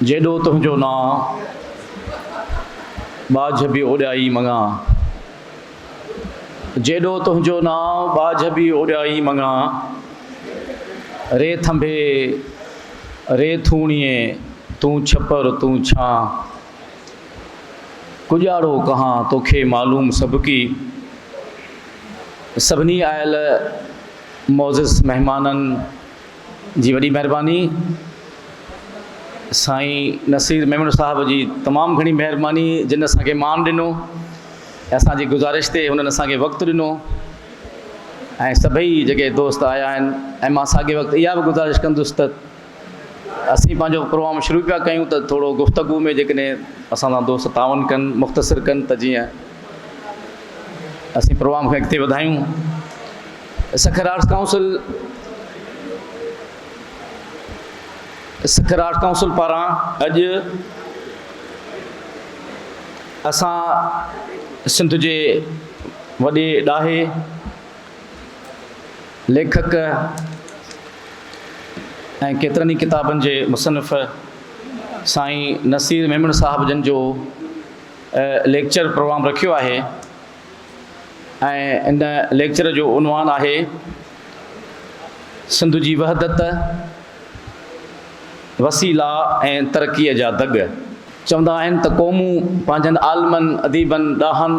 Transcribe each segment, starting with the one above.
جيڏو تنهنجو نانء، ٻاجهه به اوڏيائي مڱان. جيڏو تنهنجو نانء، ٻاجهه به اوڏيائي مڱان. ري ٿنڀي، ري ٿوڻيي، تون ڇپر، تون ڇان. ڪڄاڙو ڪهان، توکي معلوم سڀڪي. سڀني آيل معزز مهمانن جي وڏي مهرباني سائين نصير ميمڻ صاحب جي تمام گھڻي مهرباني جن اسان کي مان ڏنو اسان جي گزارش تي انهن اسان کي وقت ڏنو ۽ سڀئي جيڪي دوست آيا آهن ۽ مان ساڳي وقت اها به گزارش ڪندس ته اسين پنهنجو پروگرام شروع پيا ڪيون ته ٿورو گفتگو ۾ جيڪڏهن اسان سان دوست تعاون ڪن مختصر ڪن ته جيئن اسين پروگرام کي اڳتي وڌايون Sukkur arts council Sukkur arts council پاران اڄ اسان سنڌ جي وڏي ڏاهي ليکڪ ۽ ڪيترن ئي ڪتابن جي مصنف سائين نصير ميمڻ صاحب جن جو ليڪچر پروگرام رکيو آهي ۽ ان ليڪچر جو عنوان آهي سنڌ جي وحدت وسيلا ۽ ترقيء جا دڳ چوندا آهن ته قومون پنهنجن عالمن اديبن ڏاهن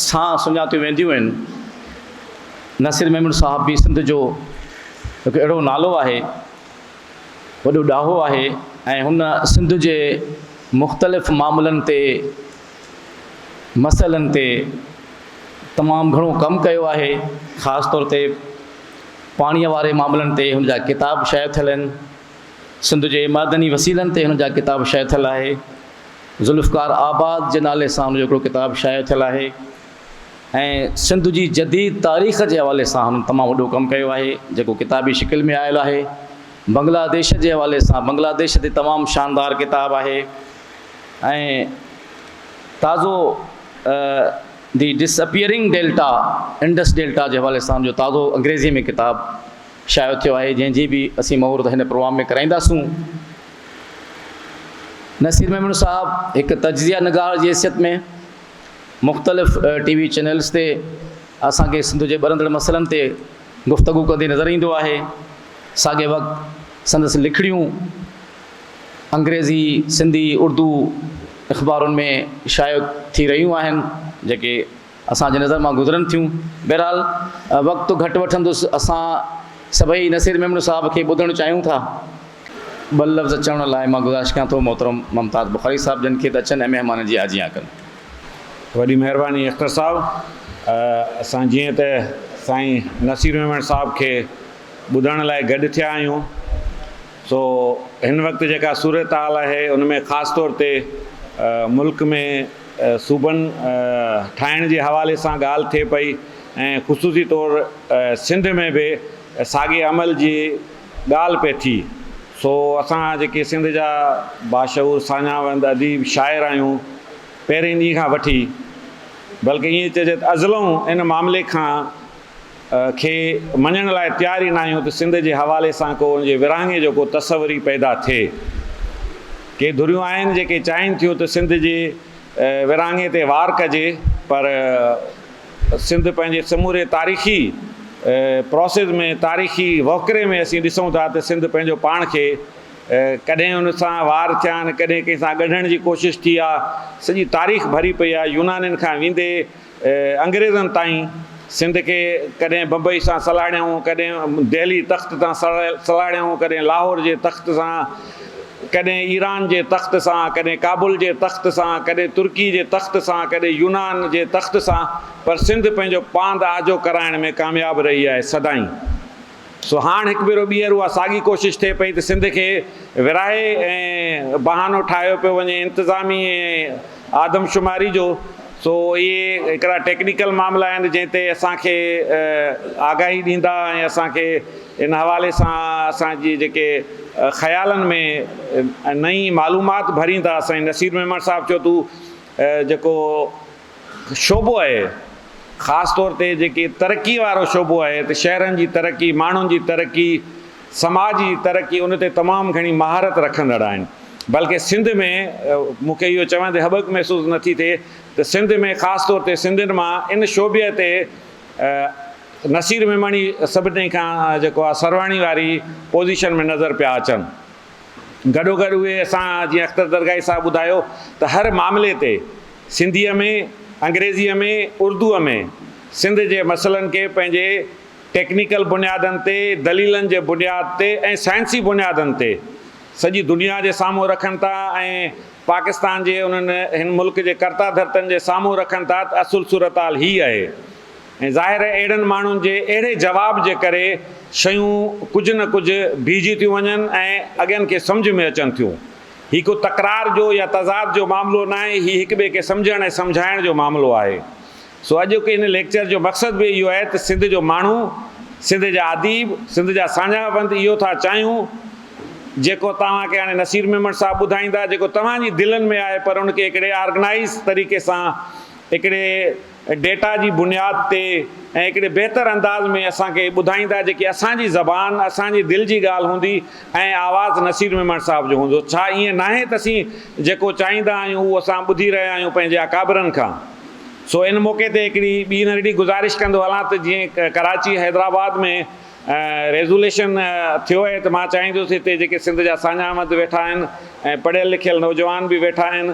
سان سڃاتيون وينديون آهن نصير محمود صاحب به سنڌ جو هڪ اهڙو نالو آهي وڏو ڏاهو آهي ۽ هن سنڌ جي مختلف معاملن تي مسئلن تي تمام گهڻو ڪم ڪيو آهي، خاص طور تي پاڻيء واري معاملن تي هن جا ڪتاب شايع ٿيل آهن. سنڌ جي معدني وسيلن تي هن جا ڪتاب شايع ٿيل آهي. ذوالفقار آباد جي نالي سان هن جو هڪڙو ڪتاب شايع ٿيل آهي ۽ سنڌ جي جديد تاريخ جي حوالي سان هنن تمام وڏو ڪم ڪيو آهي، جيڪو ڪتابي شڪل ۾ آيل آهي. بنگلاديش جي حوالي سان بنگلاديش تي تمام شاندار ڪتاب آهي. ۽ تازو the disappearing delta Indus delta جي حوالي سان جو تازو انگريزي ۾ ڪتاب شايو ٿيو آهي جنهن جي به اسين مهورت هن پروگرام ۾ ڪرائينداسون نصير ميمڻ صاحب هڪ تجزيه نگار جي حيثيت ۾ مختلف ٽي وي چينلز تي اسان کي سنڌ جي ٻرندڙ مسئلن تي گفتگو ڪندي نظر ايندو آهي ساڳي وقت سندس لکڻيون انگريزي، سنڌي، اردو اخبارن ۾ شايع ٿي رهيون آهن، جيڪي اسان جي نظر مان گذرن ٿيون. بهرحال وقت تو گهٽ وٺندس، اسان سڀئي نصير ميمڻ صاحب کي ٻڌڻ چاهيون ٿا. ٻه لفظ چوڻ لاء مان گذارش ڪيان ٿو محترم ممتاز بخاري صاحب جن کي ته اچن ۽ مهمانن جي آجيان ڪن. وڏي مهرباني اختر صاحب. اسان جيئن ته سائين نصير ميمڻ صاحب کي ٻڌڻ لاء گڏ ٿيا آهيون. سو هن وقت جيڪا صورتحال آهي ان ۾ خاص طور تي ملڪ ۾ صوبن ٺاهڻ جي حوالي سان ڳالهه ٿئي پئي ۽ خصوصي طور سنڌ ۾ به ساڳي عمل جي ڳالهه پئي ٿي سو اسان جيڪي سنڌ جا باشعور ساڃاهوند اديب شاعر آهيون پهرين ڏينهن کان وٺي بلڪه ائين چئجي ته ازلئون ان معاملي کان کي مڃڻ لاء تيار ئي ناهيون ته سنڌ جي حوالي سان ڪو ان جي ورهاڱي جو ڪو تصور ئي پيدا ٿئي. ڪي ڌريون آهن جيڪي چاهين ٿيون ته سنڌ جي ورهاڱي تي وار ڪجي پر سنڌ پنهنجي سموري تاريخي پراسز ۾ تاريخي وهڪري ۾ اسين ڏسون ٿا ته سنڌ پنهنجو پاڻ کي ڪڏهن ان سان وار ٿيا آهن ڪڏهن ڪنهن سان ڳنڍڻ جي ڪوشش ٿي آهي سڄي تاريخ ڀري پئي آهي يونانين کان ويندي انگريزن تائين سنڌ کي ڪڏهن بمبئي سان سلهاڙيائون، ڪڏهن دهلي تخت تان سلهاڙيائون، ڪڏهن لاهور جي تخت سان، ڪڏهن ايران جي تخت سان، ڪڏهن ڪابل جي تخت سان، ڪڏهن ترڪي جي تخت سان، ڪڏهن يونان جي تخت سان، پر سنڌ پنهنجو پاند آجو ڪرائڻ ۾ ڪامياب رهي آهي، سدائين. سو هاڻ هڪ ڀيرو ٻيهر اها ساڳي ڪوشش ٿئي پئي ته سنڌ کي ورهائي ۽ بهانو ٺاهيو پيو وڃي انتظامي ۽ آدمشماري جو سو اهي هڪڙا ٽيڪنيڪل معاملا آهن جنهن تي اسان کي آگاهي ڏيندا ۽ اسان کي ان حوالي سان اسان جي جيڪي خيالن ۾ نئين معلومات ڀريندا سائين نصير ميمڻ صاحب چوڌو جيڪو شعبو آهي خاص طور تي جيڪي ترقي وارو شعبو آهي ته شهرن جي ترقي ماڻهن جي ترقي سماج جي ترقي ان تي تمام گهڻي مهارت رکندڙ آهن بلڪه سنڌ ۾ مون کي اهو چوندي هٻڪ محسوس نه ٿي ٿئي ته سنڌ ۾ خاص طور تي سنڌين مان ان شعبي تي نصير ميمڻي سڀني کان جيڪو آهي سرواڻي واري پوزيشن ۾ نظر پيا اچن. گڏوگڏ اهي اسان جيئن اختر درگاهي صاحب ٻڌايو ته هر معاملي تي سنڌيء ۾ انگريزيء ۾ اردوء ۾ سنڌ جي مسئلن کي پنهنجي ٽيڪنيڪل بنيادن تي دليلن جي بنياد تي ۽ سائنسي بنيادن تي سڄي دنيا جي سامهون رکن ٿا ۽ پاڪستان جي انهن هن ملڪ جي ڪرتا ڌرتن جي سامهون رکن ٿا ته اصل صورتحال هي اهي ۽ ظاهر اهڙن ماڻهن جي اهڙي جواب جي ڪري شيون ڪجهه نه ڪجهه بيهجي ٿيون وڃن ۽ اڳين کي سمجهه ۾ اچن ٿيون. هي ڪو تڪرار جو يا تضاد جو معاملو ناهي، هي هڪ ٻئي کي سمجهڻ ۽ سمجهائڻ جو معاملو آهي. سو اڄوڪي هن ليڪچر جو مقصد به اهو آهي ته سنڌ جو ماڻهو، سنڌ جا اديب، سنڌ جا ساڃاهوند اهو ٿا چاهيون جيڪو توهان کي هاڻي نصير ميمڻ صاحب ٻڌائيندا، جيڪو توهان جي دلن ۾ آهي پر ان کي هڪڙي آرگنائيز طريقي سان هڪڙي ڊيٽا جي بنياد تي ۽ هڪڙي بهتر انداز ۾ اسان کي ٻڌائيندا جيڪي اسان جي زبان اسان جي دل جي ڳالهه هوندي ۽ آواز نصير ميمڻ صاحب جو هوندو ڇا ائين ناهي ته اسين جيڪو چاهيندا آهيون اهو اسان ٻڌي رهيا آهيون پنهنجي اڪابرن کان سو ان موقعي تي هڪڙي ٻي ننڍڙي گذارش ڪندو هلان ته جيئن ڪراچي حيدرآباد ۾ ريزوليشن ٿيو آهي ته مان چاهيندس هتي جيڪي سنڌ جا ساڃاهه مند ويٺا آهن ۽ پڙهيل لکيل نوجوان به ويٺا آهن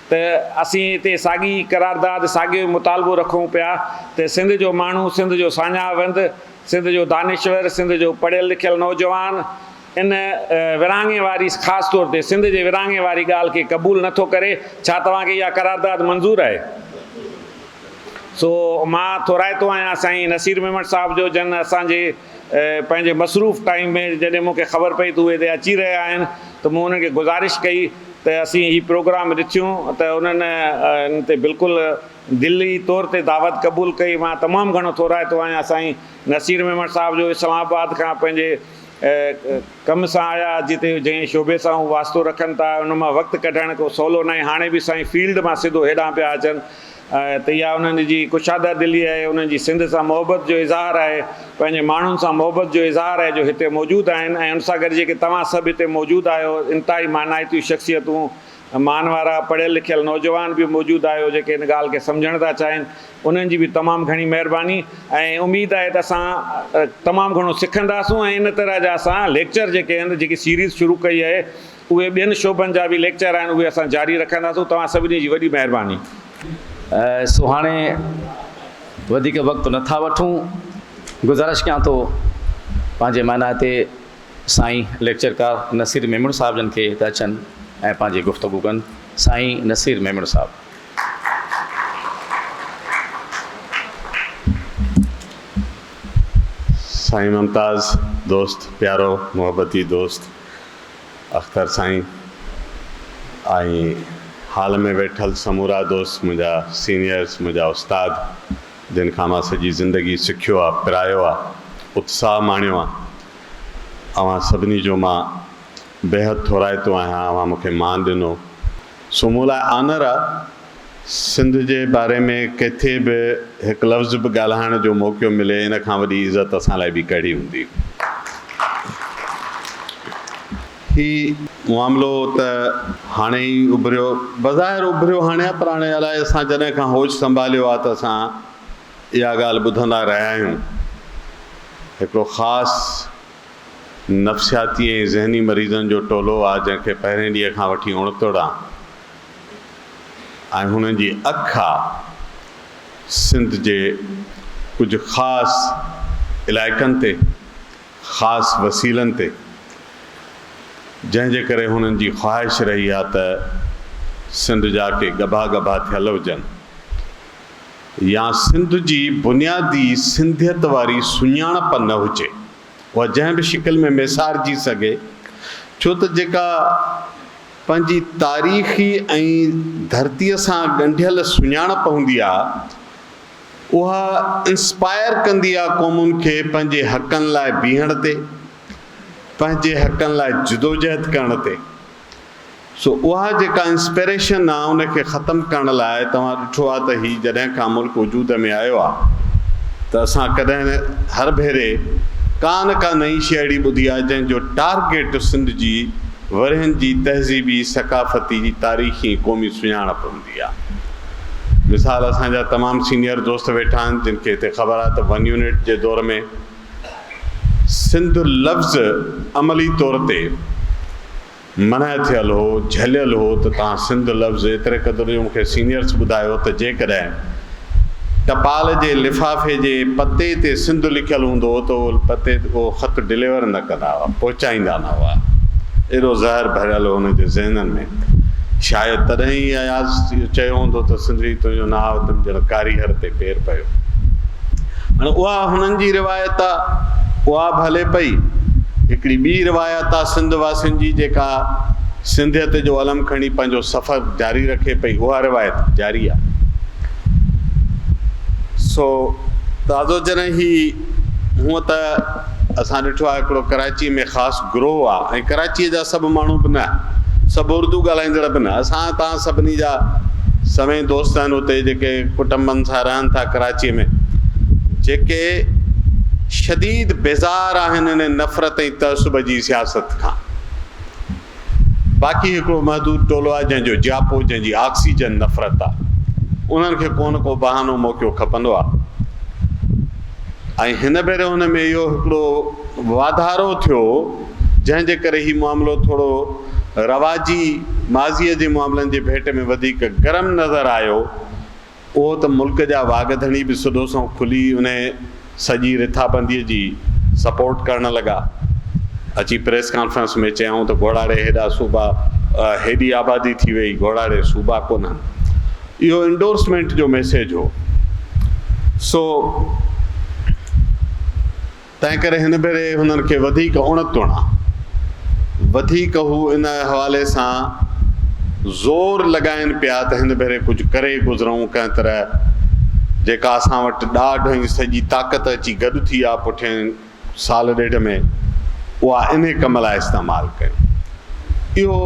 ته اسين اتي ساڳي قرارداد ساڳيو مطالبو رکون پيا ته سنڌ جو ماڻهو سنڌ جو ساڃاهه وند سنڌ جو دانشور سنڌ جو پڙهيل لکيل نوجوان ان ورهاڱي واري خاص طور تي سنڌ جي ورهاڱي واري ڳالهه کي قبول نه ٿو ڪري ڇا توهان کي اها قرارداد منظور آهي سو مان ٿورائتو آهيان سائين نصير ميمڻ صاحب جو جن اسان جي پنهنجي مصروف ٽائيم ۾ جڏهن مون کي خبر پئي ته اهي هتي اچي رهيا آهن ته مون انهن کي گذارش ڪئي ته اسين هي پروگرام ڏٺيون ته انهن ان تي بلڪل دلي طور تي دعوت قبول ڪئي مان تمام گهڻو ٿورائتو آهيان سائين نصير ميمڻ صاحب جو اسلام آباد کان پنهنجي ڪم سان آيا جتي جنهن شعبي سان هو واسطو رکن ٿا ان مان وقت ڪڍڻ ڪو سولو ناهي هاڻي به سائين فيلڊ مان سڌو هيڏانهن پيا اچن آهي ته اها انهن جي ڪشاده دلي آهي، انهن جي سنڌ سان محبت جو اظهار آهي، پنهنجي ماڻهن سان محبت جو اظهار آهي جو هتي موجود آهن ۽ ان سان گڏ جيڪي توهان سڀ هتي موجود آهيو انتهائي مانائتيون شخصيتون، مان وارا پڙهيل لکيل نوجوان به موجود آهيو جيڪي ان ڳالهه کي سمجهڻ ٿا چاهين انهن جي به تمام گهڻي مهرباني ۽ اميد آهي ته اسان تمام گهڻو سکنداسون ۽ ان طرح جا اسان ليڪچر جيڪي آهن جيڪي سيريز شروع ڪئي آهي اهي ٻين شعبن جا به ليڪچر آهن اهي اسان جاري رکنداسون توهان سڀني جي وڏي مهرباني. سو هاڻي وڌيڪ وقت نه ٿا وٺون گذارش ڪيان ٿو پنهنجي مانائتي سائين ليڪچرڪار نصير ميمڻ صاحب جن کي ته اچن ۽ پنهنجي گفتگو ڪن سائين نصير ميمڻ صاحب. سائين ممتاز دوست پيارو محبتي دوست. اختر سائين ۽ هال ۾ ويٺل سمورا دوست منهنجا سينيئرس منهنجا استاد جن کان مان سڄي زندگي سکيو آ پرايو آ اتساهه ماڻيو آ اوهان سڀني جو مان بيحد ٿورائتو آهيان اوهان مونکي مان ڏنو سو مون لاء آنر آ سنڌ جي باري ۾ ڪٿي به هڪ لفظ به ڳالهائڻ جو موقعو ملي ان کان وڏي عزت اسان لاء ٻي ڪهڙي هوندي. هي معاملو ته هاڻي ئي اڀريو بظاهر اڀريو هاڻي آ پر هاڻي الائي اسان جڏهن کان هوش سنڀاليو آ ته اسان اها ڳالهه ٻڌندا رهيا آهيون هڪڙو خاص نفسياتي ۽ ذهني مريضن جو ٽولو آ جنهن کي پهرين ڏينهن کان وٺي اڻتوڙ آ ۽ هنن جي اک آ سنڌ جي ڪجهه خاص علائقن تي خاص وسيلن تي جنهن جي ڪري هنن جي خواهش رهي آ ته سنڌ جا ڪي ڳڀا ڳڀا ٿيل هجن. يا سنڌ جي بنيادي سنڌيت واري سڃاڻپ نه هجي، اها جنهن به شڪل ۾ ميسارجي سگهي، ڇو ته جيڪا پنهنجي تاريخي ۽ ڌرتيء سان ڳنڍيل سڃاڻپ هوندي آهي، اها انسپائر ڪندي آهي قومن کي پنهنجي حقن لاء بيهڻ تي، پنهنجي حقن لاء جدوجهد ڪرڻ تي. سو اها جيڪا انسپيريشن آ ان کي ختم ڪرڻ لاء توهان ڏٺو آ ته هي جڏهن کان ملڪ وجود ۾ آيو آ ته اسان ڪڏهن هر ڀيري ڪا نه ڪا نئين شي اهڙي ٻڌي آ جنهن جو ٽارگيٽ سنڌ جي ورهين جي تهذيبي، ثقافتي، تاريخي ۽ قومي سڃاڻپ هوندي آ. مثال اسان جا تمام سينيئر دوست ويٺا آهن جن کي هتي خبر آ ته ون يونٽ جي دور ۾. سنڌ لفظ عملي طور تي منع ٿيل هو، جهليل هو ته تان سنڌ لفظ ايتري قدر جو مون کي سينيئرس ٻڌايو ته جيڪڏهن ٽپال جي لفافي جي پتي تي سنڌ لکيل هوندو هو ته اهو پتي اهو خط ڊليور نه ڪندا هئا، پهچائيندا نه هئا. ايڏو زهر ڀريل هو انهن جي ذهنن ۾. شايد تڏهن ئي اياز اهو چيو هوندو ته سنڌڙي تنهنجو ناء تن جهڙ ڪاري هر تي پير پيو. هاڻي اها هنن جي روايت آ، اها به هلي پئي. هڪڙي ٻي روايت آ سنڌ واسين جي جيڪا سنڌيت جو علم کڻي پنهنجو سفر جاري رکي پئي، اها روايت به جاري آ. سو تازو جڏهن هي هونئن ته اسان ڏٺو آهي هڪڙو ڪراچيء ۾ خاص گروهه آهي ۽ ڪراچيء جا سڀ ماڻهو به نه، سڀ اردو ڳالهائيندڙ به نه، اسان توهان سڀني جا سوين دوست آهن اتي جيڪي ڪٽنبن سان رهن ٿا ڪراچيء ۾، جيڪي شديد بيزار آهن انهيء نفرت ۽ تعصب جي سياست کان. باقي هڪڙو محدود ٽولو آهي جنهن جو جياپو جنهن جي آڪسيجن نفرت آهي انهن کي ڪو نه ڪو بهانو موقعو کپندو آهي ۽ هن ڀيري ان ۾ اهو هڪڙو واڌارو ٿيو جنهن جي ڪري هي معاملو ٿورو رواجي ماضي جي معاملن جي ڀيٽ ۾ وڌيڪ گرم نظر آيو. اهو ته ملڪ جا واڳ ڌڻي به سڌو سنئون کلي انهيء سڄي رٿابنديء جي سپورٽ ڪرڻ لڳا. اچي پريس ڪانفرنس ۾ چيائون ته گهوڙاڙي هيڏا صوبا، هيڏي آبادي ٿي ويئي، گهوڙاڙي صوبا ڪونهن. اهو انڊورسمينٽ جو ميسيج هو. سو. تنهنڪري هن ڀيري هنن کي وڌيڪ اڻ توڻا وڌيڪ هو ان حوالي سان زور لڳائين پيا ته هن ڀيري ڪجهه ڪري گذرئون ڪنهن طرح جيڪا اسان وٽ ڏاڍ ۽ سڄي طاقت اچي گڏ ٿي آ پٺئين سال ڏيڍ ۾ اها انهي ڪم لاء استعمال ڪيون. اهو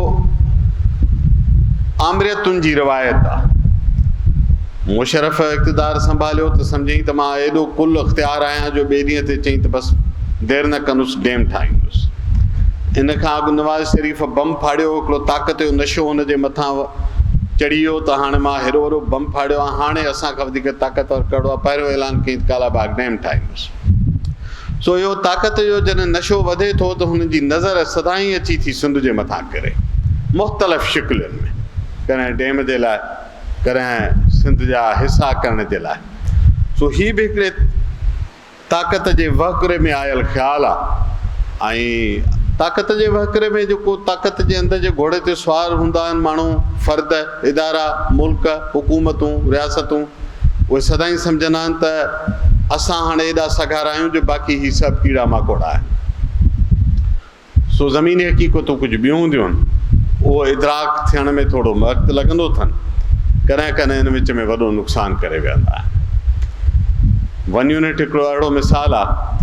آمريتن جي روايت آ. مشرف اقتدار سنڀاليو ته سمجهيائين ته مان ايڏو ڪل اختيار آهيان جو ٻئي ڏينهن تي چيائين ته بس دير نه ڪندس ڊيم ٺاهيندس. ان کان اڳ نواز شريف بم ڦاڙيو هڪڙو طاقت جو نشو هن جي مٿان چڙهي ويو ته هاڻي مان هيڏو وڏو بم ڦاڙيو آ هاڻي اسان کان وڌيڪ طاقتور ڪهڙو آ پهريون اعلان ڪيائين ته ڪالا باغ ڊيم ٺاهيندس. سو اهو طاقت جو جڏهن نشو وڌي ٿو ته هن جي نظر سدائين اچي ٿي سنڌ جي مٿان ڪري مختلف شڪلين ۾، ڪڏهن ڊيم جي لاء، ڪڏهن سنڌ جا حصا ڪرڻ جي لاء. سو هي به هڪڙي طاقت جي وهڪري ۾ آيل خيال آ ۽ طاقت جي وهڪري ۾ جيڪو طاقت جي اندر جي گهوڙي تي سوار هوندا آهن ماڻهو، فرد، ادارا، ملڪ، حڪومتون، رياستون اهي سدائين سمجهندا آهن ته اسان هاڻي ايڏا سگهارا آهيون جو باقي هي سڀ ڪيڙا ماڪوڙا آهن. سو زميني حقيقتون ڪجهه ٻيون هونديون آهن. اهو ادراڪ ٿيڻ ۾ ٿورو وقت لڳندو اٿن. ڪڏهن ڪڏهن ان وچ ۾ وڏو نقصان ڪري ويهندا آهن. ون يونٽ هڪڙو اهڙو مثال آهي.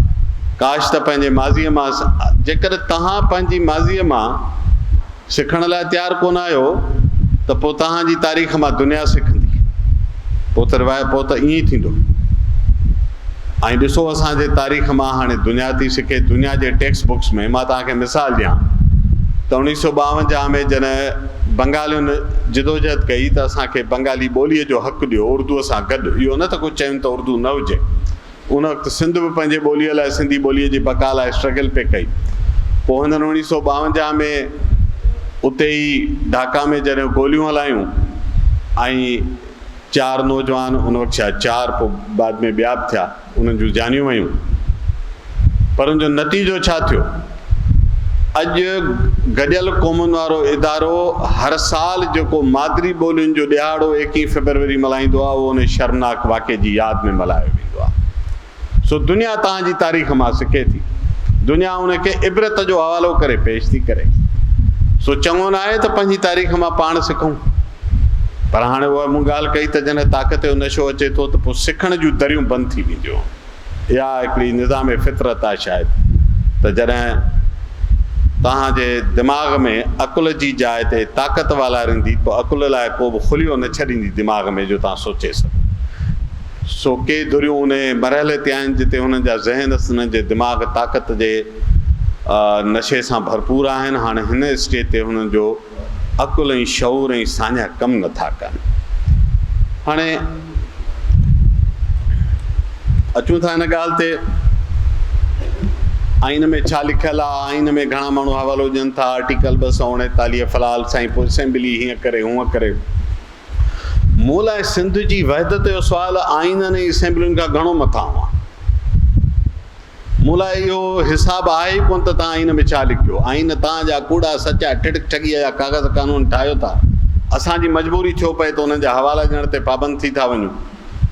ڪاش ته پنهنجي ماضيء مان جيڪڏهن توهان پنهنجي ماضيء مان سکڻ لاء تيار ڪونه آهيو ته پوء توهان جي تاريخ مان دنيا سکندي. پوء ته روايت پوء ته ائين ئي ٿيندو. ۽ ڏسو اسان جي تاريخ مان هاڻي دنيا ٿي سکي. دنيا جي ٽيڪسٽ بڪس ۾ مان توهان کي مثال ڏيان ته اوڻيهه سؤ ٻاونجاهه ۾ جڏهن بنگالين جدوجهد ڪئي ته اسان کي بنگالي ٻوليء جو حق ڏيو اردوء سان گڏ. اهو نه ته ڪو چين ته اردو نه هجي. ان وقت سنڌ به پنهنجي ٻوليء لاء سنڌي ٻوليء جي بقا لاء اسٽرگل پئي ڪئي. پوء هنن اوڻيهه سؤ ٻاونجاهه ۾ اتي ئي ڍاڪا ۾ جڏهن گوليون هلايون ۽ چار نوجوان ان وقت شايد چار پوء بعد ۾ ٻيا به ٿيا انهن جون جانيون ويون پر ان جو نتيجو ڇا ٿيو؟ اڄ گڏيل قومن وارو ادارو هر سال جيڪو مادري ٻولين جو ڏهاڙو ايڪيهين فيبروري ملهائيندو آهي اهو انهي شرمناڪ واقعي جي ياد ۾ ملهايو ويندو آهي. سو دنيا تهان جي تاريخ مان سکي ٿي. دنيا ان کي عبرت جو حوالو ڪري پيش ٿي ڪري. سو چڱو ناهي ته پنهنجي تاريخ مان پاڻ سکون. پر هاڻي اها مون ڳالهه ڪئي ته جڏهن طاقت جو نشو اچي ٿو ته پوء سکڻ جون دريون بند ٿي وينديون. اها هڪڙي نظام فطرت آهي شايد ته جڏهن توهان جي دماغ ۾ عقل جي جاء تي طاقت والاريندي ته عقل لاء ڪو به خليو نه ڇڏيندي دماغ ۾ جو توهان سوچي سگهو. سو ڪي ڌريون انهي مرحلي تي آهن جتي هنن جا ذهن هنن جي دماغ طاقت جي نشي سان ڀرپور آهن هاڻي هن اسٽيج تي هنن جو عقل ۽ شعور ۽ ساڃاهه ڪم نٿا ڪن. هاڻي اچون ٿا ان ڳالهه تي آئين ۾ ڇا لکيل آهي؟ آئين ۾ گهڻا ماڻهو حوالو ڏين ٿا آرٽيڪل ٻه سؤ اڻيتاليهه فلحال سائين پوء اسيمبلي هيئن ڪري هونئن ڪري. مون لاء سنڌ جي وحدت جو سوال آئينن ۽ اسيمبلين کان گهڻو مٿانهون آهي. مون لاء اهو حساب آهي ئي ڪونه ته توهان آئين ۾ ڇا لکيو؟ آئين توهان جا ڪوڙا، سچا، ٺڙڪ ٺڳيء جا ڪاغذ قانون ٺاهيو ٿا. اسان جي مجبوري ڇو پئي ته انهن جا حوالا ڏيڻ تي پابند ٿي ٿا وڃون.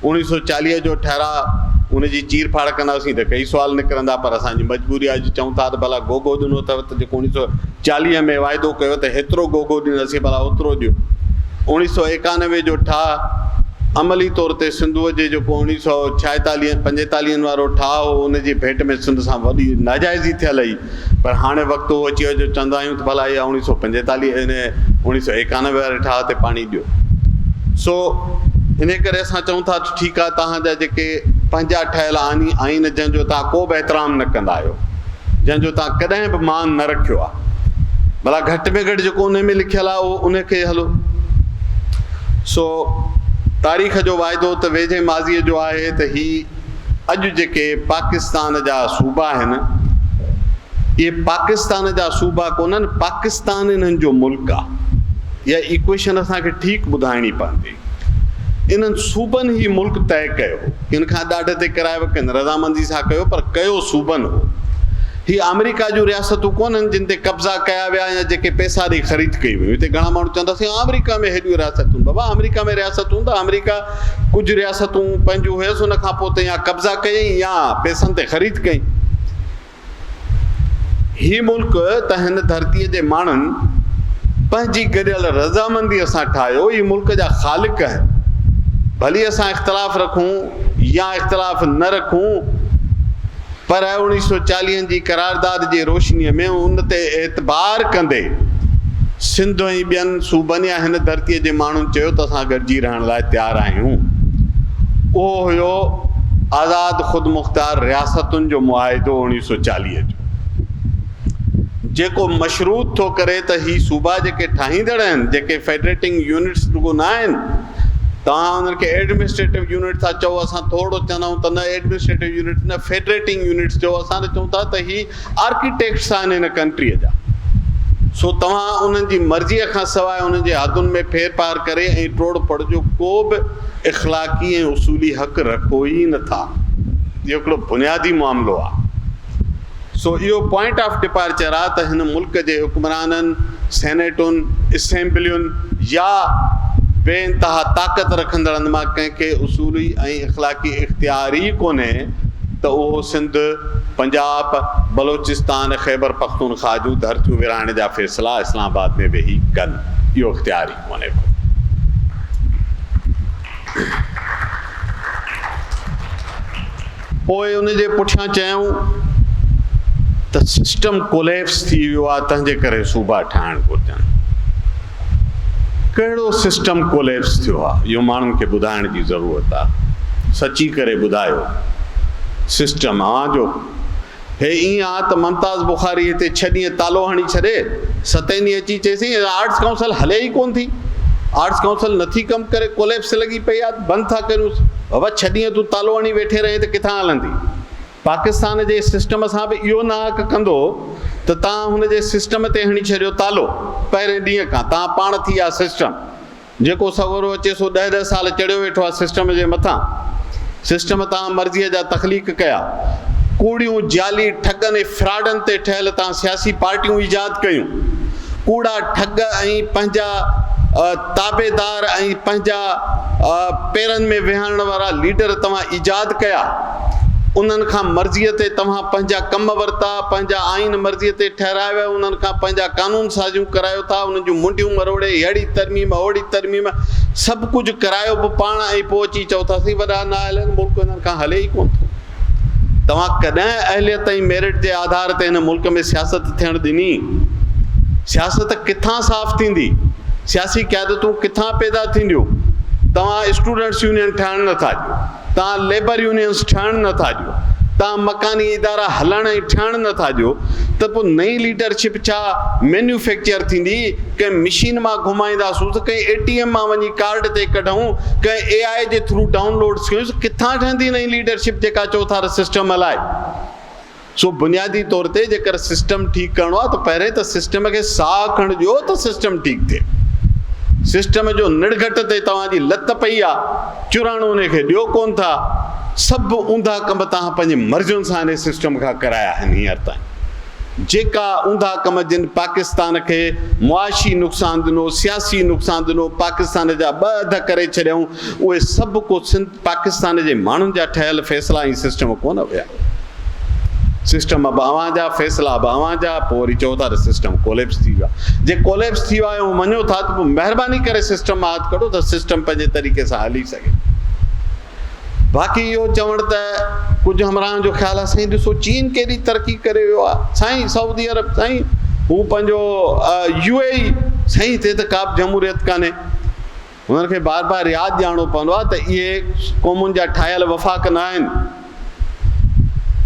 اوڻيهه سؤ چاليهه جو ٺهراء، ان جي چير ڦاڙ ڪنداسين ته ڪيئي سوال نڪرندا پر اسان جي مجبوري آهي جو چئون ٿا ته ڀلا گوگو ڏنو اٿئو ته جيڪو اوڻيهه سؤ چاليهه ۾ واعدو ڪيو ته هيترو گوگو ڏينداسين ڀلا اوترو ڏيو. اوڻيهه سؤ ايڪانوي جو ٺاهه عملي طور تي سنڌوء جي جيڪو اوڻيهه سؤ ڇائيتاليهن پنجيتاليهن وارو ٺاهه هو ان جي ڀيٽ ۾ سنڌ سان وڏي ناجائزي ٿيل هئي پر هاڻي وقت اهو اچي ويو جو چوندا آهيون ته ڀلا اها اوڻيهه سؤ پنجيتاليهه ان اوڻيهه سؤ ايڪانوي واري ٺاهه تي پاڻي ڏيو سو انهي ڪري اسان چئون ٿا ته ٺيڪ آهي توهان جا جيڪي پنهنجا ٺهيل آني آئين جنهن جو توهان ڪو به احترام نه ڪندا آهيو. جنهن جو توهان ڪڏهن به مان نه رکيو آهي. ڀلا گهٽ ۾ گهٽ جيڪو انهي ۾ لکيل آهي اهو انهي کي هلو. سو تاريخ جو واعدو ته ويجهي ماضيء جو آهي ته هي اڄ جيڪي پاڪستان جا صوبا آهن اهي پاڪستان جا صوبا ڪونهن پاڪستان انهن جو ملڪ آهي. اها ايڪويشن اسان کي ٺيڪ ٻڌائڻي پوندي. انهن صوبن هي ملڪ طئي ڪيو هو. ڪن کان ڏاڍ تي ڪرايو هو، ڪن رضامندي سان ڪيو پر ڪيو صوبن هو. هي آمريڪا جون رياستون ڪونه هن جن تي قبضا ڪيا ويا يا جيڪي پئسا ڏئي خريد ڪيون ويون. هتي گهڻا ماڻهو چوندا سائين آمريڪا ۾ هيڏيون رياستون. بابا آمريڪا ۾ رياستون ته آمريڪا ڪجهه رياستون پنهنجون هيس ان کان پوء تنهن يا قبضا ڪيائين يا پئسن تي خريد ڪئين. هي ملڪ ته هن ڌرتيء جي ماڻهن پنهنجي گڏيل رضامنديء سان ٺاهيو، اهي ملڪ جا خالق آهن، ڀلي اسان اختلاف رکون يا اختلاف نه رکون، پر اوڻيهه سؤ چاليهن جي قرارداد جي روشنيء ۾ ان تي اعتبار ڪندي سنڌ ۽ ٻين صوبن يا هن ڌرتيء جي ماڻهن چيو ته اسان گڏجي رهڻ ڪرڻ لاء تيار آهيون اهو هيو آزاد خودمختار رياستن جو معاهدو اوڻيهه سؤ چاليهه جو جيڪو مشروط ٿو ڪري ته هي صوبا جيڪي ٺاهيندڙ آهن جيڪي فيڊريٽنگ يونٽس رڳو نه آهن توهان انهن کي ايڊمنسٽريٽو يونٽ ٿا چئو اسان ٿورڙو چوندائون ته نه ايڊمنسٽريٽو يونٽس نه فيڊريٽنگ يونٽس چئو اسان ته چئون ٿا ته هي آرڪيٽيڪٽس آهن هن ڪنٽريء جا، سو توهان انهن جي مرضيء کان سواء انهن جي حدن ۾ ڦير ڦار ڪري ۽ ٽوڙ ڦڙ جو ڪو به اخلاقي ۽ اصولي حق رکو ئي نه ٿا. اهو هڪڙو بنيادي معاملو آهي. سو اهو پوائنٽ آف ڊپارچر آهي ته هن ملڪ جي حڪمرانن، سينيٽن، اسيمبلين يا بي انتها طاقت رکندڙن مان ڪنهن کي اصولي ۽ اخلاقي اختيار ئي ڪونهي ته اهو سنڌ، پنجاب، بلوچستان، خيبر پختونخواهه جون ڌرتيون ورهائڻ جا فيصلا اسلام آباد ۾ ويهي ڪن، اهو اختيار ئي ڪونهي ڪو. پوء ان جي پٺيان چيائون ته سسٽم ڪوليپس ٿي ويو آهي، تنهنجي ڪري صوبا ٺاهڻ گهرجن. ڪهڙو سسٽم ڪوليپس ٿيو آ اهو ماڻهن کي ٻڌائڻ جي ضرورت آ سچي ڪري ٻڌايو سسٽم اوهان جو هي ائين آ ته ممتاز بخاري هتي ڇهه ڏينهن تالو هڻي ڇڏي ستين ڏينهن اچي چيسين آرٽس ڪائونسل هلي ئي ڪون ٿي آرٽس ڪائونسل نٿي ڪم ڪري ڪوليپس لڳي پئي آ بند ٿا ڪريون بابا ڇهه ڏينهن تون تالو هڻي ويٺي رهين ته ڪٿان هلندي پاڪستان جي سسٽم سان به اهو ناحق ڪندو ته توهان هن جي سسٽم تي هڻي ڇڏيو تالو، پهرين ڏينهن کان توهان پاڻ ٿي ويا سسٽم، جيڪو سڳورو اچي سو ڏهه ڏهه سال چڙهيو ويٺو آهي سسٽم جي مٿان، سسٽم توهان مرضيء جا تخليق ڪيا، ڪوڙيون، جعلي، ٺڳن ۽ فراڊن تي ٺهيل توهان سياسي پارٽيون ايجاد ڪيون، ڪوڙا ٺڳ ۽ پنهنجا تابعدار ۽ پنهنجا پيرن ۾ ويهارڻ وارا ليڊر توهان ايجاد ڪيا. انهن کان مرضيء تي توهان پنهنجا ڪم ورتا، پنهنجا آئين مرضيء تي ٺهرايو ۽ انهن کان پنهنجا قانون سازيون ڪرايو ٿا، انهن جون منڊيون مروڙي، هيڙهي ترميم، هوڙهي ترميم، سڀ ڪجهه ڪرايو به پاڻ ۽ پوء اچي چئو ٿا سي وڏا نااهلن، ملڪ هنن کان هلي ئي ڪونه ٿو. توهان ڪڏهن اهليت ۽ ميرٽ جي آڌار تي هن ملڪ ۾ سياست ٿيڻ ڏني؟ سياست ڪٿان صاف ٿيندي؟ سياسي قيادتون ڪٿان پيدا ٿينديون؟ توهان اسٽوڊنٽس يونين ٺاهڻ نٿا ڏيو. توهان ليبر يونينز ٺهڻ نه ٿا ڏيو، توهان مڪاني ادارا هلڻ ۽ ٺهڻ نه ٿا ڏيو ته پوء نئين ليڊرشپ ڇا مينيوفيڪچر ٿيندي؟ ڪنهن مشين مان گهمائينداسون ته ڪنهن اي ٽي ايم مان وڃي ڪارڊ تي ڪڍون، ڪنهن اي آء جي ٿرو ڊائون لوڊز ڪيون، ڪٿان ٺهندي نئين ليڊرشپ جيڪا چوٿار سسٽم هلائي؟ سو بنيادي طور تي جيڪر سسٽم ٺيڪ ڪرڻو آهي ته پهرين ته سسٽم کي ساهه کڻ ڏيو ته سسٽم ٺيڪ ٿئي. سسٽم جو نڙگهٽ تي توهان جي لت پئي آهي، چراڻو انهي کي ڏيو ڪونه ٿا. سڀ اونڌا ڪم توهان پنهنجي مرضين سان انهي سسٽم کان ڪرايا آهن هينئر تائين. جيڪا اونڌا ڪم جن پاڪستان کي معاشي نقصان ڏنو، سياسي نقصان ڏنو، پاڪستان جا ٻه اڌ ڪري ڇڏيائون، اهي سڀ ڪو سنڌ پاڪستان جي ماڻهن جا ٺهيل فيصلا ۽ سسٽم ڪونه هيا. سسٽم به اوهان جا، فيصلا به اوهان جا، پوء وري چئو ٿا ته سسٽم ڪوليپس ٿي ويو آهي. جي ڪوليپس ٿي ويو آهي اهو مڃو ٿا ته پوء مهرباني ڪري سسٽم مان هٿ ڪڍو ته سسٽم پنهنجي طريقي سان هلي سگهي. باقي اهو چوڻ ته ڪجهه همراهن جو خيال آهي سائين ڏسو چين ڪيڏي ترقي ڪري ويو آهي. سائين سعودي عرب، سائين هو پنهنجو يو اي اي، سائين هتي ته ڪابه جمهوريت ڪانهي. هنن کي بار بار ياد ڏيارڻو پوندو آهي ته اهي قومن جا ٺاهيل وفاق نه آهن.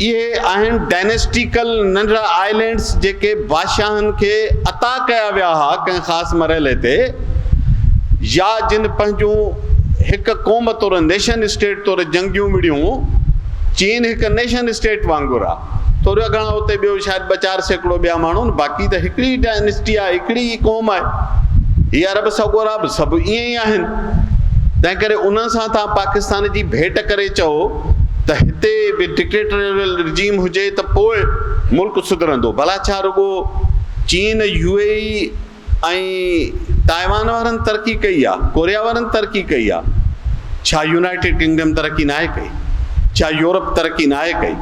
اهي آهن ڊائنسٽيڪل ننڍڙا آئلينڊس جيڪي بادشاهن کي عطا ڪيا ويا ها ڪنهن خاص مرحلي تي يا جن پنهنجون هڪ قوم طور نيشن اسٽيٽ طور جنگيون وڙهيون. چين هڪ نيشن اسٽيٽ وانگر آهي. ٿورا گهڻا اتي ٻيو شايد ٻه چار سيڪڙو ٻيا ماڻهو آهن باقي ته هڪڙي ئي ڊائنسٽي آهي هڪڙي ئي قوم آهي هي عرب سڳورا به سڀ ائين ئي آهن تنهن ڪري انهن سان توهان پاڪستان جي ڀيٽ ڪري چئو ته هتي به ڊڪٽيٽريل رجيم هجي ته پوء ملڪ سڌرندو ڀلا ڇا رڳو چين يو اي اي ۽ تائيوان وارن ترقي ڪئي آ ڪوريا وارن ترقي ڪئي آ ڇا يونائيٽيڊ ڪنگڊم ترقي ناهي ڪئي ڇا يورپ ترقي ناهي ڪئي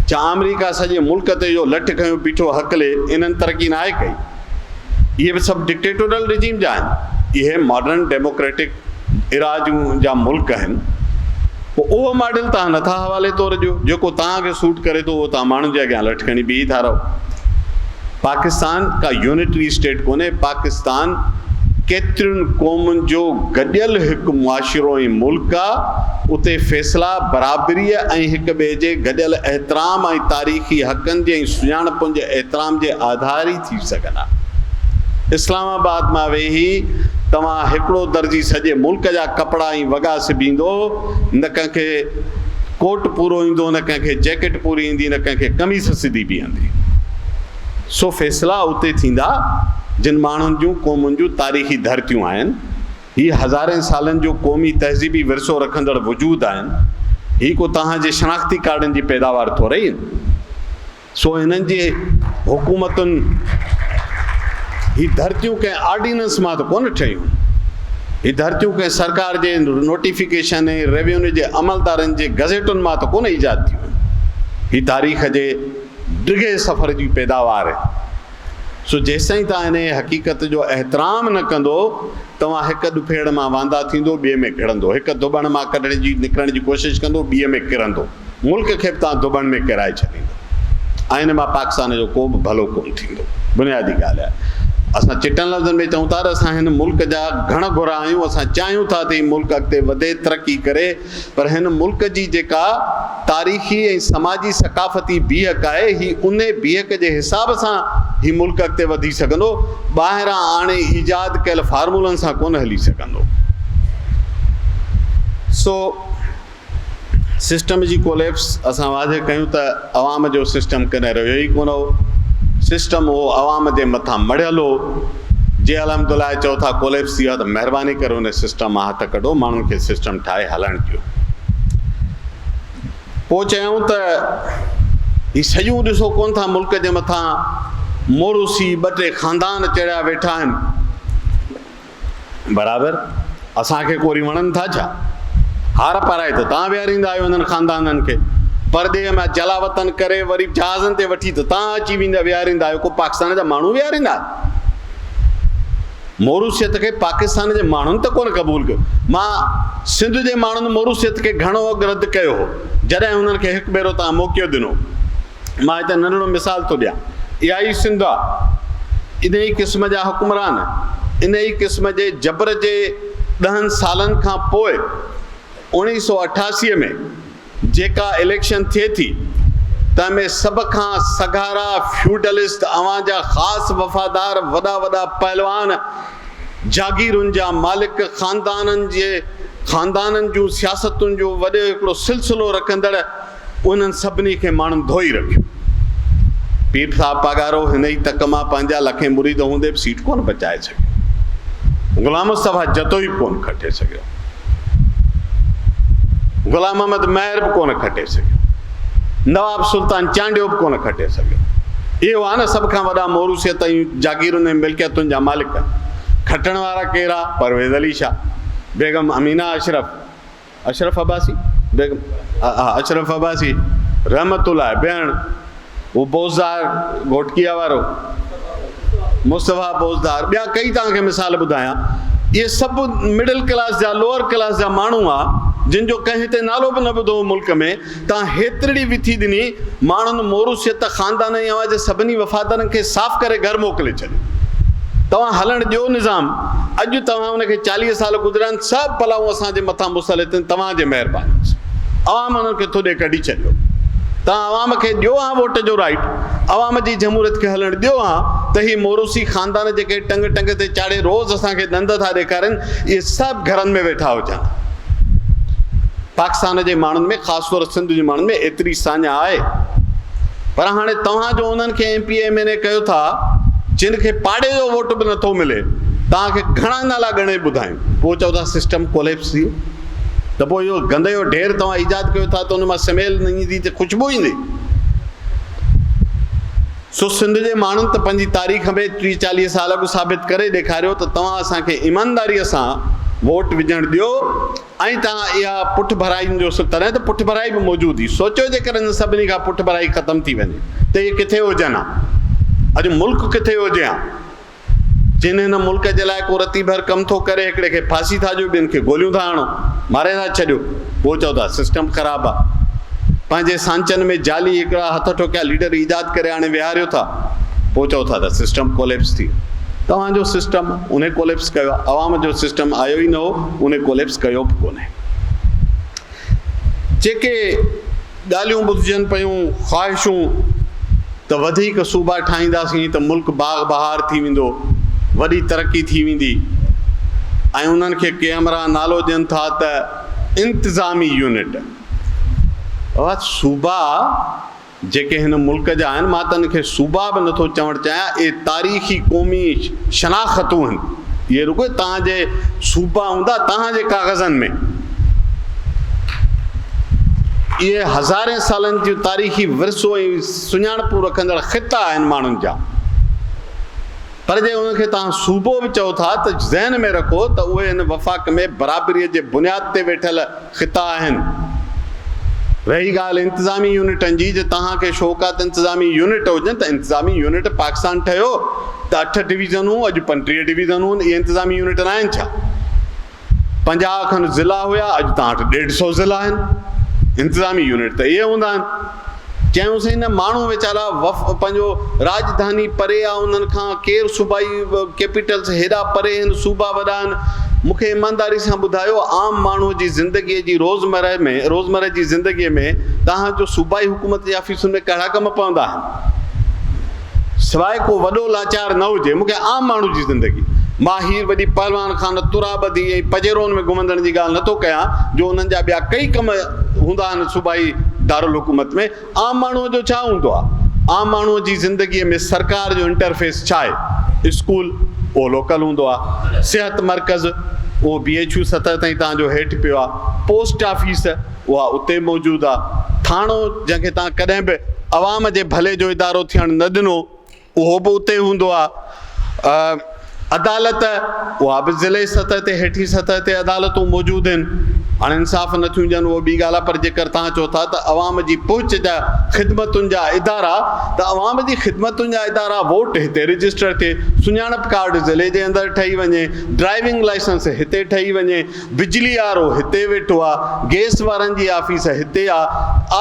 ڇا آمريڪا سڄي ملڪ تي اهو لٺ کنيو بيٺو هڪلي انهن ترقي ناهي ڪئي اهي به سڀ ڊڪٽيٽورل رجيم جا آهن اهي ماڊرن ڊيموڪريٽڪ ايراضيون جا ملڪ آهن پوء اهو ماڊل توهان نه ٿا حوالي طور ڏيو، جيڪو توهان کي سوٽ ڪري ٿو اهو توهان ماڻهن جي اڳيان لٺ کڻي بيهي ٿا رهو. پاڪستان ڪا يونٽري اسٽيٽ ڪونهي، پاڪستان ڪيترين قومن جو گڏيل هڪ معاشرو ۽ ملڪ آ، اتي فيصلا برابريء ۽ هڪ ٻئي جي گڏيل احترام ۽ تاريخي حقن جي ۽ سڃاڻپن جي احترام جي آڌاري ٿي سگهن ها. اسلام آباد مان ويهي توهان هڪڙو درزي سڄي ملڪ جا ڪپڙا ۽ وڳا سبيندو، نه ڪنهن کي ڪوٽ پورو ايندو نه ڪنهن کي جيڪٽ پوري ايندي نه ڪنهن کي قميص سڌي بيهندي. سو فيصلا اتي ٿيندا جن ماڻهن جون قومن جون تاريخي ڌرتيون آهن. هي هزارين سالن جو قومي تهذيبي ورثو رکندڙ وجود آهن. هي ڪو توهان جي شناختي ڪارڊن جي پيداوار ٿورئي آهن. سو هنن جي حڪومتن هي ڌرتيون ڪنهن آرڊيننس مان ته ڪونه ٺهيون. هي ڌرتيون ڪنهن سرڪار جي نوٽيفڪيشن ۽ روينيو جي عملدارن جي گزيٽن مان ته ڪونه ايجاد ٿيون. هي تاريخ جي ڊگهي سفر جي پيداوار آهي. سو جيستائين توهان انهيء حقيقت جو احترام نه ڪندو، توهان هڪ ڏڦيڙ مان واندا ٿيندو، ٻئي ۾ گهڙندو، هڪ ڌوٻڻ مان ڪڍڻ جي، نڪرڻ جي ڪوشش ڪندو، ٻيء ۾ ڪرندو. ملڪ کي به توهان ڌوٻڻ ۾ ڪيرائي ڇڏيندو ۽ ان مان پاڪستان جو ڪو به ڀلو ڪونه ٿيندو. بنيادي ڳالهه آهي. اسان چٽن لفظن ۾ چئون ٿا ته اسان هن ملڪ جا گهڻ گهرا آهيون، اسان چاهيون ٿا ته هي ملڪ اڳتي وڌي، ترقي ڪري، پر هن ملڪ جي جيڪا تاريخي ۽ سماجي ثقافتي بيهڪ آهي، هي انهي بيهڪ جي حساب سان هي ملڪ اڳتي وڌي سگهندو، ٻاهران آڻي ايجاد ڪيل فارمولن سان ڪونه هلي سگهندو. سو سسٽم جي ڪوليپس اسان واضح ڪيون ته. عوام جو سسٽم ڪڏهن رهيو ئي ڪونه هو. سسٽم اهو عوام جي مٿان مڙهيل هو. جي الحمدالله چئو ٿا ڪوليپس ٿي ويو آهي ته مهرباني ڪري ان سسٽم مان هٿ ڪڍو ماڻهن کي سسٽم ٺاهي هلڻ ڏيو. پوء چيائون ته هي سڄون ڏسو ڪونه ٿا ملڪ جي مٿان موروثي ٻه ٽي خاندان چڙهيا ويٺا آهن. برابر اسان کي ڪوري وڻن ٿا ڇا؟ هار پارائي ته تان ويهاريندا آهيو انهن خاندانن کي. پرڏيهه مان جلاوطن ڪري وري جهازن تي وٺي ته تان اچي ويندا ويهاريندا آهيو ڪو پاڪستان جا ماڻهو ويهاريندا آهيو؟ موروثيت کي پاڪستان جي ماڻهن ته ڪونه قبول ڪيو. مان سنڌ جي ماڻهن موروثيت کي گهڻو اڳ رد ڪيو هو جڏهن هنن کي هڪ ڀيرو تان موقعو ڏنو. مان هتي ننڍڙو مثال ٿو ڏيان. اها ئي سنڌ آ. انهيء قسم جا حڪمران، انهيء قسم جي جبر جي ڏهن سالن کان پوء اوڻيهه سؤ اٺاسي ۾ جيڪا اليڪشن ٿئي ٿي، تنهن ۾ سڀ کان سگهارا فيوڊلسٽ اوهان جا خاص وفادار وڏا وڏا پهلوان، جاگيرن جا مالڪ، خاندانن جي خاندانن جون سياستن جو وڏو هڪڙو سلسلو رکندڙ انهن سڀني کي ماڻهن ڌوئي رکيو. پير صاحب پاڳارو هن ئي تڪ مان پنهنجا لکين مريد هوندي به سيٽ ڪونه بچائي سگهيو. غلام مصطفيٰ جتوئي به ڪونه کٽي سگهيو. غلام محمد مهر به ڪونه کٽي سگهيو. نواب سلطان چانڊيو به ڪونه کٽي سگهيو. اهي هئا نه سڀ کان وڏا موروثيت ۽ جاگيرن ۽ ملڪيتن جا مالڪ. کٽڻ وارا ڪير ها؟ پرويز علي شاهه، بيگم امينه اشرف، اشرف عباسي، بيگم اشرف عباسي رحمت الله بيهڻ، هو بوزدار گهوٽڪيا وارو مصطفيٰ بوزدار ٻيا ڪئي توهان کي مثال ٻڌايان اهي سڀ مڊل ڪلاس جا لوئر ڪلاس جا ماڻهو هئا جن جو ڪنهن هتي نالو به نه ٻڌو هو ملڪ ۾، تان هيترڙي وٿي ڏني، ماڻهن موروثيت، خاندان ۽ اوهان جي سڀني وفادارن کي صاف ڪري گهر موڪلي ڇڏيو. توهان هلڻ ڏيو نظام، اڄ توهان ان کي چاليهه سال گذريا آهن، سڀ بلائون اسان جي مٿان مسلط آهن، توهان جي مهرباني سان عوام انهن کي ٿوڏي ڪڍي ڇڏيو. توهان عوام کي ڏيو هان ووٽ جو رائيٽ، عوام جي جمهوريت کي هلڻ ڏيو هان ته هي موروثي خاندان جيڪي ٽنگ ٽنگ تي چاڙهي روز اسان کي ڏند ٿا ڏيکارين، اهي سڀ گهرن ۾ ويٺا هجن. پاڪستان جي ماڻهن ۾ خاص طور سنڌ جي ماڻهن ۾ ايتري ساڃاهه آهي پر هاڻي توهان جو انهن کي M P A M N A ڪيو ٿا جن کي پاڙي جو ووٽ به نٿو ملي توهان کي گهڻا نالا ڳڻي ٻڌايون پوء چئو ٿا سسٽم ڪوليپس ٿي ويو ته پوء اهو گند جو ڍير توهان ايجاد ڪيو ٿا ته ان مان سميل ايندي ته خوشبو ايندي سو سنڌ جي ماڻهن ته پنهنجي تاريخ ۾ ٽيهه چاليهه سال اڳ ثابت ڪري ڏيکاريو ته توهان اسان کي ايمانداريء سان ووٽ وجهڻ ڏيو ۽ تان اها پٺڀرائين جو سڪ تڏهن ته پٺڀرائي به موجود هئي سوچيو جيڪڏهن هن سڀني کان پٺڀرائي ختم ٿي وڃي ته اهي ڪٿي هجن ها اڄ ملڪ ڪٿي هجي ها. جن هن ملڪ جي لاء ڪو رتي ڀر ڪم ٿو ڪري هڪڙي کي ڦاسي ٿا ڏيو ٻين کي گوليون ٿا هڻو ماري ٿا ڇڏيو پوء چئو ٿا سسٽم خراب آ پنهنجي سانچن ۾ جعلي هڪڙا هٿ ٺوڪيا ليڊر ايجاد ڪري آڻي ويهاريو ٿا پوء چئو ٿا ته سسٽم ڪوليپس ٿي توهان جو سسٽم انهي ڪوليپس ڪيو آ عوام جو سسٽم آيو ئي نه هو انهي ڪوليپس ڪيو به ڪونهي جيڪي ڳالهيون ٻڌجن پيون، خواهشون ته وڌيڪ صوبا ٺاهينداسين ته ملڪ باغ بهار ٿي ويندو، وڏي ترقي ٿي ويندي ۽ انهن کي ڪي همراهه نالو ڏين ٿا ته انتظامي يونٽ. اهي صوبا جيڪي هن ملڪ جا آهن، مان ته انهن کي صوبا به نٿو چوڻ چاهيان، اهي تاريخي قومي شناختون آهن. اهي رڳو توهان جي صوبا هوندا توهان جي ڪاغذن ۾. اهي هزارين سالن جون تاريخي ورثو ۽ سڃاڻپون رکندڙ خطا آهن ماڻهن جا. پر جي انهن کي توهان صوبو به چئو ٿا ته ذهن ۾ رکو ته اهي هن وفاق ۾ برابريء جي بنياد تي ويٺل خطا آهن. رهي ڳالهه انتظامي يونٽن جي جي توهان کي شوق آهي ته انتظامي يونٽ هجن ته انتظامي يونٽ پاڪستان ٺهيو ته اٺ ڊويزنون اڄ پنٽيهه ڊويزنون اهي انتظامي يونٽ ناهن ڇا؟ پنجاهه کن ضلعا هيا اڄ تان وٽ ڏيڍ سئو ضلعا آهن انتظامي يونٽ ته اهي هوندا آهن. چيائونسين نه ماڻهو ويچارا پنهنجو راڄڌاني پري آ انهن کان ڪير صوبائي ڪيپيٽلس هيڏا پري هن صوبا وڏا آهن مون کي ايمانداري سان ٻڌايو عام ماڻهو جي زندگي جي روزمره ۾ روزمره جي زندگي ۾ توهان جو صوبائي حڪومت جي آفيسن ۾ ڪهڙا ڪم پوندا آهن. سواء ڪو وڏو لاچار نه هجي، مون کي عام ماڻهو جي زندگي، مان هير وڏي پهلوان خانه، ترا ٻڌي ۽ پڄيرون ۾ گهمندڙن جي ڳالهه نٿو ڪيان، جو انهن جا ٻيا ڪئي ڪم هوندا آهن صوبائي دارالحڪومت ۾، عام ماڻهوء جو ڇا هوندو آهي؟ عام ماڻهوء جي زندگيء ۾ سرڪار جو انٽرفيس ڇا آهي؟ اسڪول، اهو لوڪل هوندو آهي. صحت مرڪز، اهو بي ايڇ يو سطح تائين توهان جو هيٺ پيو آهي. Post office. اها اتي موجود آ. ٿاڻو جنهن کي توهان ڪڏهن به عوام جي ڀلي جو ادارو ٿيڻ نه ڏنو اهو به اتي هوندو آ. عدالت اها به ضلعي سطح تي هيٺين سطح تي عدالتون موجود هين. هاڻ انصاف نه ٿيون ڏين اهو ٻي ڳالهه آ پر جيڪر توهان چئو ٿا ته عوام جي پهچ جا خدمتن جا ادارا ته عوام جي خدمتن جا ادارا ووٽ هتي رجسٽر ٿئي، سڃاڻپ ڪارڊ ضلعي جي اندر ٺهي وڃي، ڊرائيونگ لائسنس هتي ٺهي وڃي، بجلي وارو هتي ويٺو آ. گئس وارن جي آفيس هتي آ.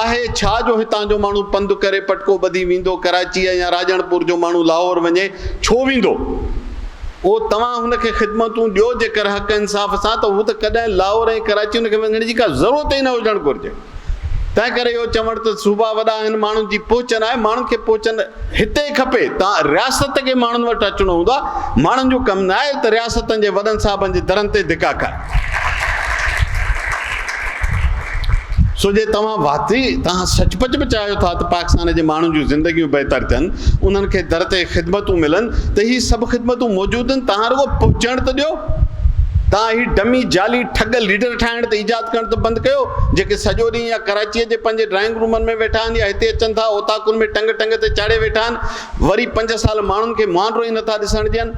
آهي ڇا جو هتان جو ماڻهو پنڌ ڪري پٽڪو ٻڌي ويندو ڪراچيء يا راڄڻپور جو ماڻهو لاهور وڃي ڇو ويندو؟ او توهان هن کي خدمتون ڏيو جيڪر حق انصاف سان ته هو ته ڪڏهن لاهور ۽ ڪراچي هن کي وڃڻ جي ڪا ضرورت ئي نه هجڻ گهرجي. تنهن ڪري اهو چوڻ ته صوبا وڏا آهن ماڻهن جي پهچ ناهي ماڻهن کي پهچ هتي کپي ته رياست کي ماڻهن وٽ اچڻو هوندو آهي ماڻهن جو ڪم ناهي ته رياستن جي وڏن صاحبن جي درن تي ڌڪا کائي سو جي توهان واقعي توهان سچ پچ به چاهيو ٿا ته پاڪستان جي ماڻهن جون زندگيون بهتر ٿين انهن کي در تي خدمتون ملن ته هي سڀ خدمتون موجود آهن توهان رڳو پهچڻ ته ڏيو توهان هي ڊمي جعلي ٺڳ ليڊر ٺاهڻ ته ايجاد ڪرڻ ته بند ڪيو جيڪي سڄو ڏينهن يا ڪراچيء جي پنهنجي ڊرائنگ رومن ۾ ويٺا آهن يا هتي اچن ٿا اوطاقن ۾ ٽنگ ٽنگ تي چاڙهي ويٺا آهن وري پنج سال ماڻهن کي مهانڊو ئي نٿا ڏسڻ ڏين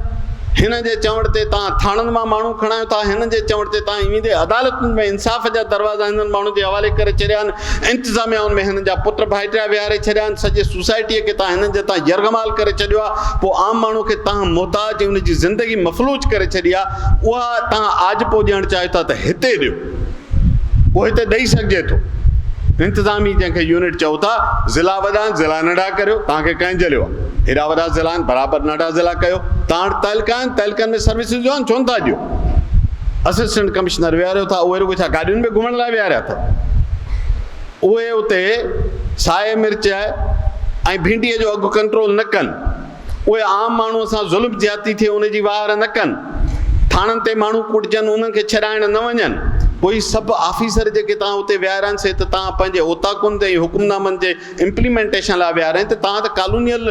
هنن جي چوڻ تي توهان ٿاڻن مان ماڻهو کڻايو ٿا هنن جي چوڻ تي توهان ايندي عدالتن ۾ انصاف جا دروازا هنن ماڻهن جي حوالي ڪري ڇڏيا آهن انتظاميائن ۾ هنن جا پٽ ڀائٽيا ويهاري ڇڏيا آهن، سڄي سوسائٽيء کي تان هنن جي تان يرغمال ڪري ڇڏيو آهي، پوء عام ماڻهوء کي تان محتاج ۽ ان جي زندگي مفلوج ڪري ڇڏي آهي، اها تان آجپو ڏيڻ چاهيو ٿا ته هتي ڏيو، اهو هتي ڏئي سگهجي ٿو. انتظامي جنهن کي يونٽ چئو ٿا، ضلعا وڏا آهن، ضلعا ننڍا ڪريو، تان کي ڪنهن جهليو آهي؟ هيڏا وڏا ضلعا آهن، برابر ننڍا ضلعا ڪيو، تان وٽ تعلقا آهن، تعلقن ۾ سروسز ڏيو ها نه، ڇو نه ٿا ڏيو؟ اسسٽنٽ ڪمشنر ويهاريو ٿا، اهي رڳو ڇا گاڏين ۾ گهمڻ لاء ويهاريا اٿن؟ اهي اتي سائي مرچ ۽ ڀينڊيء جو اگهه ڪنٽرول نه ڪن، اهي عام ماڻهوء سان ظلم زيادتي ٿئي ان جي واهر نه ڪن، ٿاڻن تي ماڻهو ڪوٽجن انهن کي ڇڏائڻ نه وڃن، پوء سڀ آفيسر جيڪي توهان اتي ويهارين سي ته توهان پنهنجي اوطاقن تي ۽ حڪمنامن جي امپليمينٽيشن لاء ويهارين ته توهان ته ڪالونيل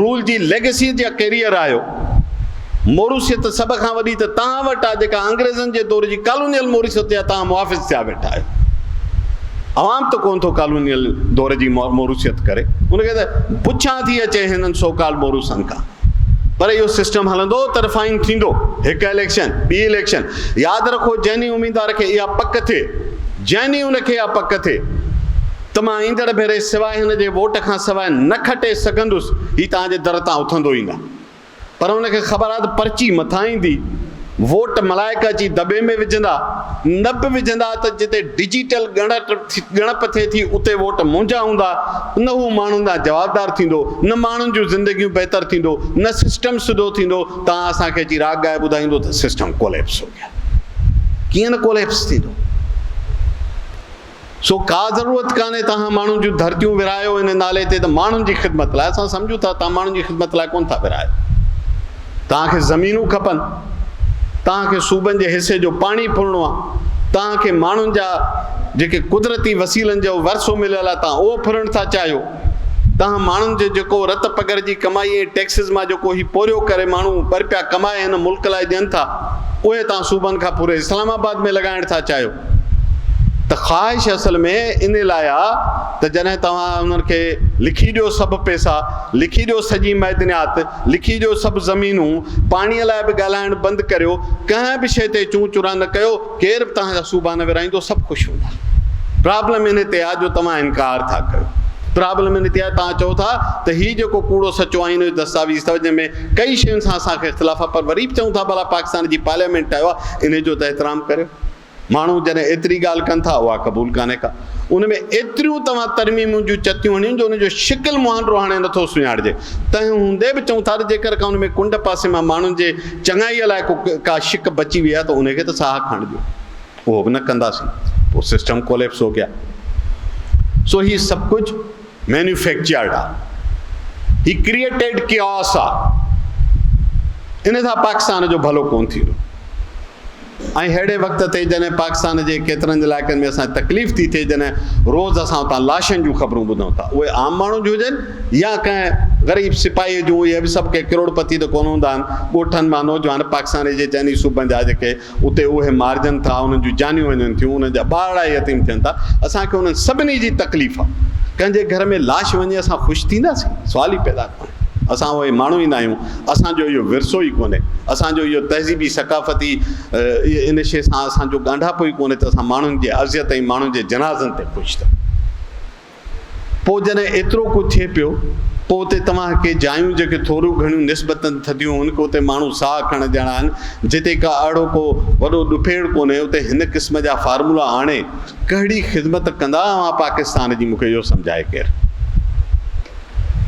رول جي ليگسيء جا ڪيريئر آهيو. موروثيت سڀ کان وڏي ته توهان وٽ آهي جيڪا انگريزن جي دور جي ڪالونيل موروثيت جا توهان محافظ ٿيا ويٺا آهيو. عوام ته ڪونه ٿو ڪالونيل دور جي موروثيت ڪري. ان کي ته پڇا ٿي اچي هنن سو ڪالڊ موروثن کان. پر اهو سسٽم هلندو ته رفائن ٿيندو. هڪ اليڪشن، ٻي اليڪشن. ياد رکو جنهن ڏينهن اميدوار کي اها پڪ ٿئي، جنهن ڏينهن ان کي اها پڪ ٿئي، ته مان ايندڙ ڀيري سواء هن جي ووٽ کان سواء نه کٽي سگهندس، هي توهان جي در تان اٿندو ئي نه. پر هن کي خبر آهي ته پرچي مٿان ايندي، ووٽ ملائڪ اچي دٻي ۾ وجهندا، نه به وجهندا ته جتي ڊجيٽل ڳڻپ ٿئي ٿي اتي ووٽ منهنجا هوندا، نه هو ماڻهن ڏانهن جوابدار ٿيندو، نه ماڻهن جون زندگيون بهتر ٿيندو، نه سسٽم سڌو ٿيندو، توهان اسان کي اچي راڳ ڳائي ٻڌائيندو ته سسٽم ڪوليپس هو گيا. ڪيئن نه ڪوليپس ٿيندو. سو ڪا ضرورت ڪانهي توهان ماڻهن جون ڌرتيون ورهايو ان نالي تي ته ماڻهن جي خدمت لاء اسان سمجهون ٿا توهان ماڻهن جي خدمت لاء ڪونه ٿا ورهايو توهان کي زمينون کپن توهان کي صوبن جي حصي جو پاڻي ڦرڻو آهي توهان کي ماڻهن جا جيڪي قدرتي وسيلن جو ورثو مليل آهي توهان اهو ڦرڻ ٿا چاهيو توهان ماڻهن جو جيڪو رت پگهر جي ڪمائي ۽ ٽيڪسز مان جيڪو هي پورهيو ڪري ماڻهو ٻه رپيا ڪمائي هن ملڪ لاء ڏين ٿا اهي توهان صوبن کان پوري اسلام آباد ۾ لڳائڻ ٿا چاهيو ته خواهش اصل ۾ ان لاء آ ته جڏهن توهان انهن کي لکي ڏيو سڀ پئسا، لکي ڏيو سڄي معدنيات، لکي ڏيو سڀ زمينون، پاڻيء لاء به ڳالهائڻ بند ڪريو، ڪنهن به شيء تي چون چران نه ڪيو، ڪير به توهان جا صوبا نه ورهائيندو، سڀ خوش هوندا. پرابلم ان تي آ جو توهان انڪار ٿا ڪيو. پرابلم ان تي آ توهان چئو ٿا ته هي جيڪو ڪوڙو سچو آئين جو دستاويز اٿو جنهن ۾ ڪئي شين سان اسان کي اختلاف آ پر وري به چئون ٿا ڀلا پاڪستان جي پارليامينٽ ٺاهيو آ انهي جو ته احترام ڪريو. ماڻهو جڏهن ايتري ڳالهه ڪن ٿا اها قبول ڪانهي ڪا. ان ۾ ايتريون توهان ترميمون جون چتيون هڻيون جو ان جو شڪل مهانڊو هاڻي نٿو سڃاڻجي. تنهن هوندي به چئون ٿا ته جيڪر ڪا ان ۾ ڪنڊ پاسي مان ماڻهن جي چڱائيء لاء ڪو ڪا شڪ بچي وئي آهي ته ان کي ته ساهه کڻڻ ڏيو. اهو به نه ڪنداسين. پوء سسٽم ڪوليپس هو گيا. سو هي سڀ ڪجهه. مينوفيڪچرڊ آ هي ڪريئيٽيڊ ڪيئوس آ ان سان پاڪستان جو ڀلو ڪون ٿيندو ۽ ههڙي وقت تي جڏهن پاڪستان جي ڪيترن علائقن ۾ اسان تڪليف ٿي ٿئي جڏهن روز اسان اتان لاشن جون خبرون ٻڌون ٿا اهي عام ماڻهن جون هجن يا ڪنهن غريب سپاهي جون اهي به سڀ ڪي ڪروڙپتي ته ڪون هوندا آهن ڳوٺن مان نوجوان پاڪستان جي چئني صوبن جا جيڪي اتي اهي مارجن ٿا، انهن جون جانيون وڃن ٿيون، انهن جا ٻارڙا يتيم ٿين ٿا، اسان کي انهن سڀني جي تڪليف آ، ڪنهن جي گهر ۾ لاش وڃي اسان خوش ٿينداسين؟ سوال ئي پيدا ڪونهي. اسان اهي ماڻهو ئي ناهيون، اسان جو اهو ورثو ئي ڪونهي، اسان جو اهو تهذيبي ثقافتي ان شيء سان اسان جو ڳانڍاپو ئي ڪونهي ته اسان ماڻهن جي اذيت ۽ ماڻهن جي جنازن تي خوش ٿيون. پوء جڏهن ايترو ڪو ٿئي پيو، پوء اتي توهان ڪي جايون جيڪي ٿوريون گهڻيون نسبتاً ٿڌيون هن ڪي اتي ماڻهو ساهه ڪھڻ جهڙا آهن، جتي ڪا اھڙو ڪو وڏو ڏڦيڙ ڪونهي، اتي هن قسم جا فارمولا آڻي ڪهڙي خدمت ڪندا اوهان پاڪستان جي مون کي اهو سمجهائي ڪير.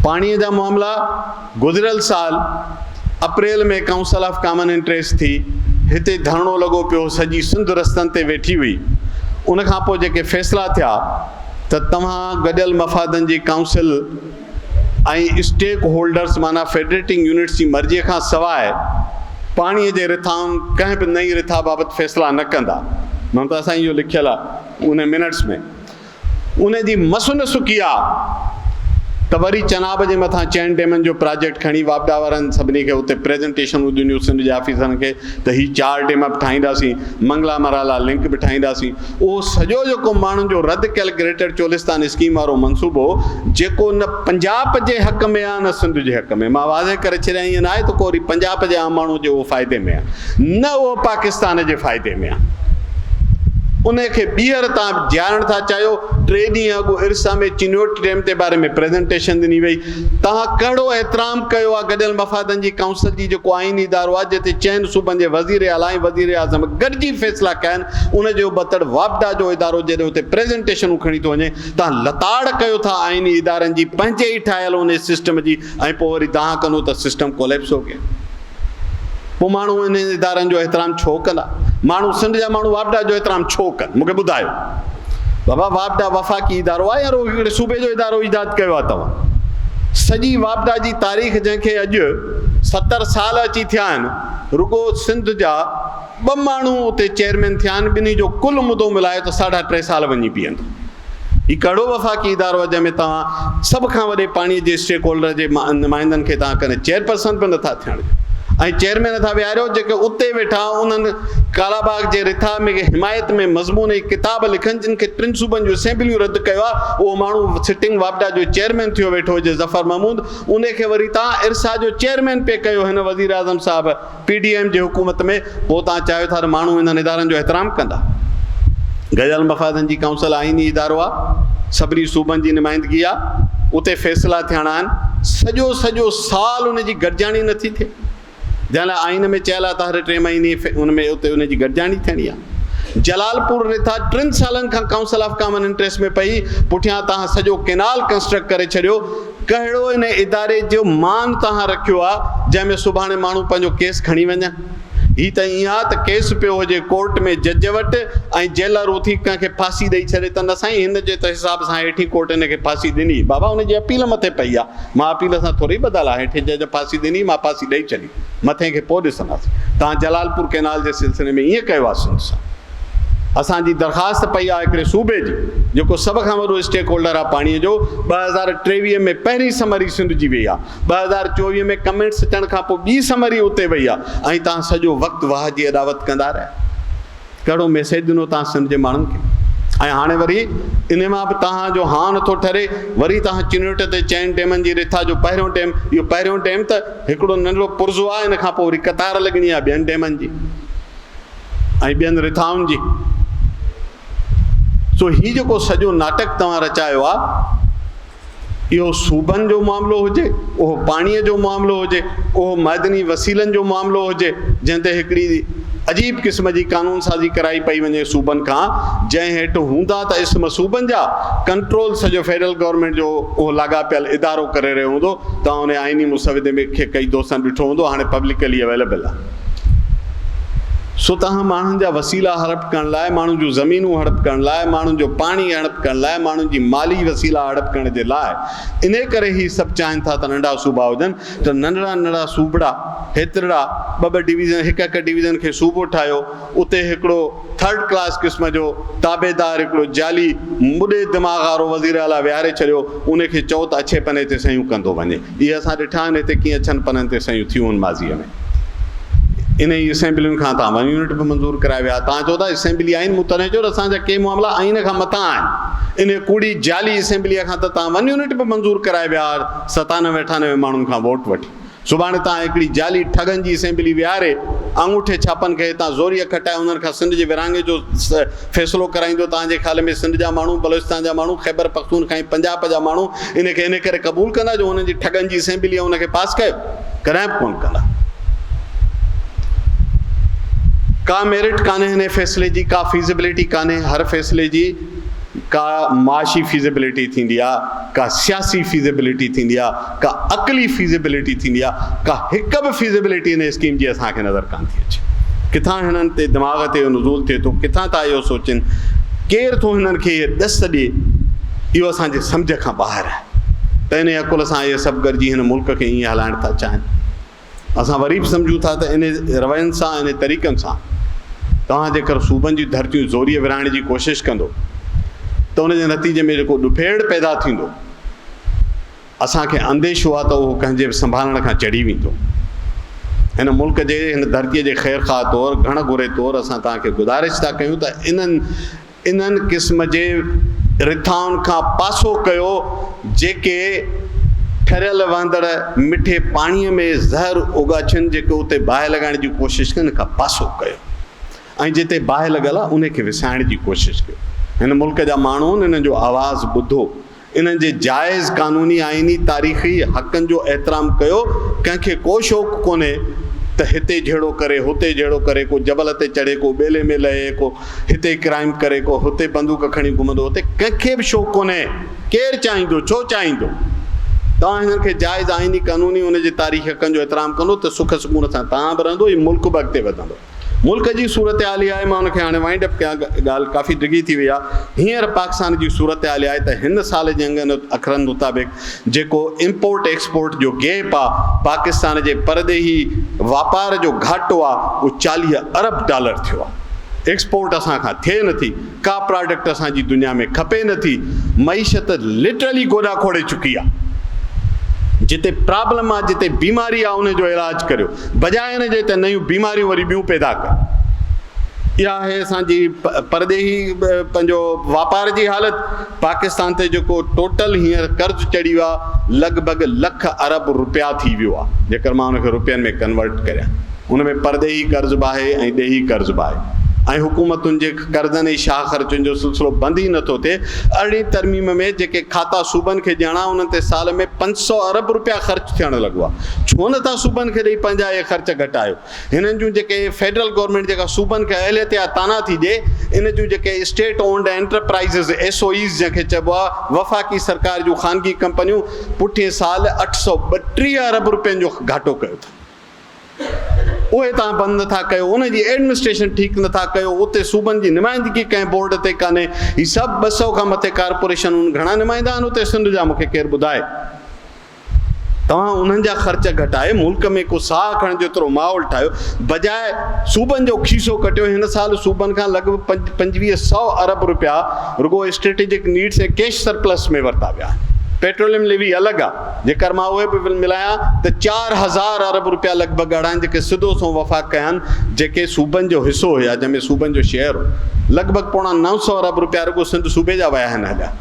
پاڻيء جا معاملا؟ گذريل سال April ۾ council of common interest ٿي هتي ڌرڻو لڳو پيو سڄي سنڌ رستن تي ويٺي هئي ان کان پوء جيڪي فيصلا ٿيا ته توهان گڏيل مفادن جي ڪائونسل ۽ اسٽيڪ هولڊرز معنيٰ فيڊريٽنگ يونٽس جي مرضي کان سواء پاڻي جي رٿائن ڪنهن به نئين رٿا بابت فيصلا نه ڪندا. ممتا سائين اهو لکيل آهي ان منٽس ۾. ان جي مس نه سڪي ها ته وري چناب جي مٿان چئن ڊيمن جو پراجيڪٽ کڻي واپڊا وارن سڀني کي اتي پريزنٽيشنون ڏنيون سنڌ جي آفيسرن کي ته هي چار ڊيم به ٺاهينداسين منگلا مرالا لنڪ به ٺاهينداسين اهو سڄو جيڪو ماڻهن جو رد ڪيل گريٽر چولستان اسڪيم وارو منصوبو جيڪو نه پنجاب جي حق ۾ ڪسان سنڌ جي حق ۾ مان واضح ڪري ڇڏيان ايئن ناهي ته ڪو وري پنجاب جي عام ماڻهو جي اهو فائدي ۾ آهي نه اهو پاڪستان جي فائدي ۾ آهي ان کي ٻيهر تان جهارڻ ٿا چاهيو ٽي ڏينهن اڳ ارسا ۾ چنوٽ ڊيم تي باري ۾ پريزنٽيشن ڏني وئي تان ڪهڙو احترام ڪيو آهي گڏيل مفادن جي ڪائونسل جي جيڪو آئيني ادارو آهي جتي چئن صوبن جي وزير اعليٰ ۽ وزير اعظم گڏجي فيصلا ڪيا آهن ان جو بتڙ واپڊا جو ادارو جڏهن اتي پريزنٽيشنون کڻي ٿو وڃي تان لتاڙ ڪيو ٿا آئيني ادارن جي پنهنجي ئي ٺاهيل انهي سسٽم جي ۽ پوء وري دانهن ڪندو ته سسٽم ڪوليپس هو گيا پوء ماڻهو انهن ادارن جو احترام ڇو ڪندا ماڻهو سنڌ جا ماڻهو واپڊا جو احترام ڇو ڪن مون کي ٻڌايو بابا واپڊا وفاقي ادارو آهي يا روهي ڪهڙي صوبي جو ادارو ايجاد ڪيو آهي توهان سڄي واپڊا جي تاريخ جنهن کي اڄ ستر سال اچي ٿيا آهن رڳو سنڌ جا ٻه ماڻهو اتي چيئرمين ٿيا آهن، ٻنهي جو ڪل مدو ملايو ته ساڍا ٽي سال وڃي بيهندو. هي ڪهڙو وفاقي ادارو آهي جنهن ۾ توهان سڀ کان وڏي پاڻي جي اسٽيڪ هولڊر جي نمائندن کي توهان ڪڏهن چيئرپرسن به نٿا ٿيڻ ڏيو ۽ چيئرمين ٿا ويهاريو جيڪي اتي ويٺا انهن ڪالا باغ جي رٿا ۾ حمايت ۾ مضمون ۽ ڪتاب لکن جن کي ٽن صوبن جون اسيمبليون رد ڪيو آهي اهو ماڻهو سٽنگ واپڊا جو چيئرمين ٿيو ويٺو هجي ظفر محمود انهي کي وري توهان ارسا جو چيئرمين پئي ڪيو هن وزيراعظم صاحب پي ڊي ايم جي حڪومت ۾ پوء توهان چاهيو ٿا ته ماڻهو انهن ادارن جو احترام ڪندا؟ گڏيل مفادن جي ڪائونسل آئيني ادارو آ، سڀني صوبن جي نمائندگي آ، اتي فيصلا ٿيڻا آهن، سڄو سڄو سال ان جي گڏجاڻي نه ٿي ٿئي، جنهن لاء آئين ۾ چيل آ ته هر ٽي مهيني ان ۾ اتي ان جي گڏجاڻي ٿيڻي آ. جلال پور رٿا ٽن سالن کان ڪائونسل آف ڪامن انٽريسٽ ۾ پئي، پٺيان توهان سڄو ڪينال ڪنسٽرڪٽ ڪري ڇڏيو، ڪهڙو ان اداري جو مان توهان رکيو آ جنهن ۾ سڀاڻي ماڻهو پنهنجو ڪيس کڻي وڃن. هي ته ائين آ ته ڪيس پيو هجي ڪورٽ ۾ جج وٽ ۽ جيلر اٿي ڪنهن کي ڦاسي ڏئي ڇڏي ته نه سائين هن جي ته حساب سان هيٺين ڪورٽ هن کي ڦاسي ڏني بابا ان جي اپيل مٿي پئي آ مان اپيل سان ٿوري ٻڌل آ هيٺين جج ڦاسي ڏني مان ڦاسي ڏئي ڇڏي مٿين کي پوء ڏسنداسين توهان جلالپور ڪئنال جي سلسلي ۾ ائين ڪيو آ سنڌ سان اسان جي درخواست پئي آ هڪڙي صوبي جي جيڪو سڀ کان وڏو اسٽيڪ هولڊر آ پاڻي جو ٻه هزار ٽيويهه ۾ پهرين سمري سنڌ جي وئي آ ٻه هزار چوويهه ۾ ڪمينٽس اچڻ کان پو ٻي سمري اتي وئي آ ۽ تهان سڄو وقت واه جي اڏاوت ڪندا رهيا ڪهڙو ميسيج ڏنو تهان سنڌ جي ماڻهن کي ۽ هاڻي وري انهي مان به تهان جو هان نٿو ٺري وري تهان چنوٽ تي چئن ڊيمن جي رٿا جو پهريون ڊيم اهو پهريون ڊيم ته هڪڙو ننڍڙو پرزو آ ان کان پو وري قطار لڳڻي آ ٻين ڊيمن جي ۽ ٻين رٿائن جي. سو هي جيڪو سڄو ناٽڪ توهان رچايو آ، اهو صوبن جو معاملو هجي، اهو پاڻيء جو معاملو هجي، اهو معدني وسيلن جو معاملو هجي، جنهن تي هڪڙي عجيب قسم جي قانون سازي ڪرائي پئي وڃي صوبن کان، جنهن هيٺ هوندا ته اسم صوبن جا، ڪنٽرول سڄو فيڊرل گورنمينٽ جو اهو لاڳاپيل ادارو ڪري رهيو هوندو، توهان ان آئيني مسودي کي ڪئي دوستن ڏٺو هوندو، هاڻي پبلڪلي اويليبل آ. سو توهان ماڻهن جا وسيلا هڙپ ڪرڻ لاء، ماڻهن جون زمينون هڙپ ڪرڻ لاء، ماڻهن جو پاڻي هڙپ ڪرڻ لاء، ماڻهن جي مالي وسيلا هڙپ ڪرڻ جي لاء، انهيء ڪري هي سڀ چاهين ٿا ته ننڍا صوبا هجن ته ننڍڙا ننڍڙا صوبڙا هيترڙا ٻه ٻه ڊويزن هڪ هڪ ڊويزن کي صوبو ٺاهيو اتي هڪڙو ٿرڊ ڪلاس قسم جو تابعدار هڪڙو جعلي مڏي دماغ وارو وزيراعليٰ ويهاري ڇڏيو انهي کي چئو ته اڇي پني تي صحيون ڪندو وڃي اهي اسان ڏٺا آهن هتي ڪيئن اڇن پنن تي صحيحون ٿيون آهن ماضيء ۾. انهيء اسيمبلين کان توهان ون يونٽ به منظور ڪرايا ويا. توهان چئو ٿا اسيمبلي آئين مون تڏهن چيو ته اسان جا ڪي معاملا آئين کان مٿان آهن. انهيء ڪوڙي جعلي اسيمبليء کان ته توهان ون يونٽ به منظور ڪرايا ويا هئا ستانوي اٺانوي ماڻهن کان ووٽ وٺي. سڀاڻي توهان هڪڙي جعلي ٺڳن جي اسيمبلي ويهاري آڱوٺي ڇاپن کي هتان زوريء کٽائي انهن کان سنڌ جي ورهاڱي جو فيصلو ڪرائيندو توهان جي خيال ۾ سنڌ جا ماڻهو بلوچستان جا ماڻهو خيبر پختونخوا ۽ پنجاب جا ماڻهو ان کي ان ڪري قبول ڪندا جو هنن جي ٺڳن جي اسيمبليء ان کي پاس ڪيو ڪڏهن به ڪونه ڪندا ڪا ميرٽ ڪانهي هن فيصلي جي ڪا فيزيبلٽي ڪانهي هر فيصلي جي ڪا معاشي فيزيبلٽي ٿيندي آهي ڪا سياسي فيزيبلٽي ٿيندي آهي ڪا عقلي فيزيبلٽي ٿيندي آ ڪا هڪ به فيزيبلٽي هن اسڪيم جي اسان کي نظر ڪانه ٿي اچي ڪٿان هنن تي دماغ تي اهو نزول ٿئي ٿو ڪٿان ٿا اهو سوچين ڪير ٿو هنن کي هي ڏس ڏي اهو اسان جي سمجهه کان ٻاهر آهي ته ان عقل سان اهي سڀ گڏجي هن ملڪ کي ائين هلائڻ ٿا چاهين اسان وري به سمجهون ٿا ته ان روين سان ان طريقن سان توهان جيڪر صوبن جي ڌرتيون زوريء ورهائڻ جي ڪوشش ڪندو ته ان جي نتيجي ۾ جيڪو ڏڦيڙ پيدا ٿيندو اسان کي انديشو آهي ته اهو ڪنهن جي به سنڀالڻ کان چڙهي ويندو. هن ملڪ جي، هن ڌرتيء جي خيرخواهه طور، گهڻ گهري طور اسان توهان کي گذارش ٿا ڪيون ته انهن انهن قسم جي رٿائن کان پاسو ڪيو جيڪي ٺريل وهندڙ مٺي پاڻيء ۾ زهر اوڳاڇن جيڪي اتي باهه لڳائڻ جي ڪوشش ڪن ان کان پاسو ڪيو ۽ جتي باهه لڳل آهي انهي کي وسائڻ جي ڪوشش ڪيو. هن ملڪ جا ماڻهون انهن جو آواز ٻڌو انهن جي جائز قانوني، آئيني، تاريخي حقن جو احترام ڪيو، ڪنهن کي ڪو شوق ڪونهي ته هتي جهيڙو ڪري، هتي جهيڙو ڪري، ڪو جبل تي چڙهي، ڪو ٻيلي ۾ لهي، ڪو هتي ڪرائيم ڪري، ڪو هتي بندوق کڻي گهمندو، هتي ڪنهن کي به شوق ڪونهي، ڪير چاهيندو، ڇو چاهيندو؟ توهان هنن کي جائز، آئيني، قانوني، ان جي تاريخي حقن جو احترام ڪندو ته سک سڪون سان توهان به رهندو ۽ ملڪ به اڳتي وڌندو. ملڪ جي صورتحال اها آهي، مان ان کي هاڻي وائنڊ اپ ڪيان، ڳالهه ڪافي ڊگهي ٿي وئي آهي، هينئر پاڪستان جي صورتحال اها آهي ته هن سال جي انگن اکرن مطابق جيڪو امپورٽ ايڪسپورٽ جو گيپ آهي، پاڪستان جي پرڏيهي واپار جو گهاٽو آهي اهو چاليهه ارب ڊالر ٿيو آهي، ايڪسپورٽ اسان کان ٿئي نٿي. ڪا پراڊڪٽ اسان جي دنيا ۾ کپي نه ٿي معيشت لٽرلي گوڏا کوڙي چڪي آ جتي پرابلم آ جتي بيماري آ ان جو علاج ڪريو بجاء ان جي ته نيون بيماريون وري ٻيون پيدا ڪن اها آهي اسان جي پرڏيهي پنهنجو واپار جي حالت پاڪستان تي جيڪو ٽوٽل هينئر قرض چڙهيو آ لڳ ڀڳ لک ارب روپيا ٿي ويو آ جيڪر مان ان کي روپين ۾ ڪنورٽ ڪريان ان ۾ پرڏيهي قرض به آهي ۽ ڏيهي قرض به آهي ۽ حڪومتن جي قرضن ۽ شاهه خرچن جو سلسلو بند ئي نه ٿو ٿئي، ارڙهين ترميم ۾ جيڪي کاتا صوبن کي ڏيڻا انهن تي سال ۾ پنج سؤ ارب رپيا خرچ ٿيڻ لڳا، ڇو نه ٿا صوبن کي ڏئي پنهنجا اهي خرچ گهٽايو، هنن جون جيڪي فيڊرل گورنمينٽ جيڪا صوبن کي اهليت يا تانا ٿي ڏئي ان جون جيڪي state owned enterprises, S O Es, جنهن کي چئبو آهي وفاقي سرڪار جون خانگي ڪمپنيون پٺئين سال اٺ سؤ ٻٽيهه ارب رپين جو گهاٽو ڪيو اٿن. اهي توهان بند نه ٿا ڪيو، ان جي ايڊمنسٽريشن ٺيڪ نه ٿا ڪيو، اتي صوبن جي نمائندگي ڪنهن بورڊ تي ڪانهي، هي سڀ ٻه سؤ کان مٿي ڪارپوريشنون گهڻا نمائندا آهن اتي سنڌ جا مون کي ڪير ٻڌائي. توهان انهن جا خرچ گهٽائي ملڪ ۾ ڪو ساهه کڻڻ جيترو ماحول ٺاهيو بجاء صوبن جو کيسو ڪٽيو، هن سال صوبن کان لڳ ڀڳ پنجويهه سؤ ارب روپيا رڳو اسٽريٽجڪ نيڊس ۽ ڪيش سرپلس ۾ ورتا ويا آهن، پيٽروليم ليوي الڳ آ. جيڪر مان اهي به ملايان ته چار هزار ارب روپيا لڳ ڀڳ اهڙا آهن جيڪي سڌو سنئون وفاق ڪيا آهن جيڪي صوبن جو حصو هيا جنهن ۾ صوبن جو شيئر هو لڳ ڀڳ پوڻا نو سؤ ارب روپيا رڳو سنڌ صوبي جا ويا آهن هيڏا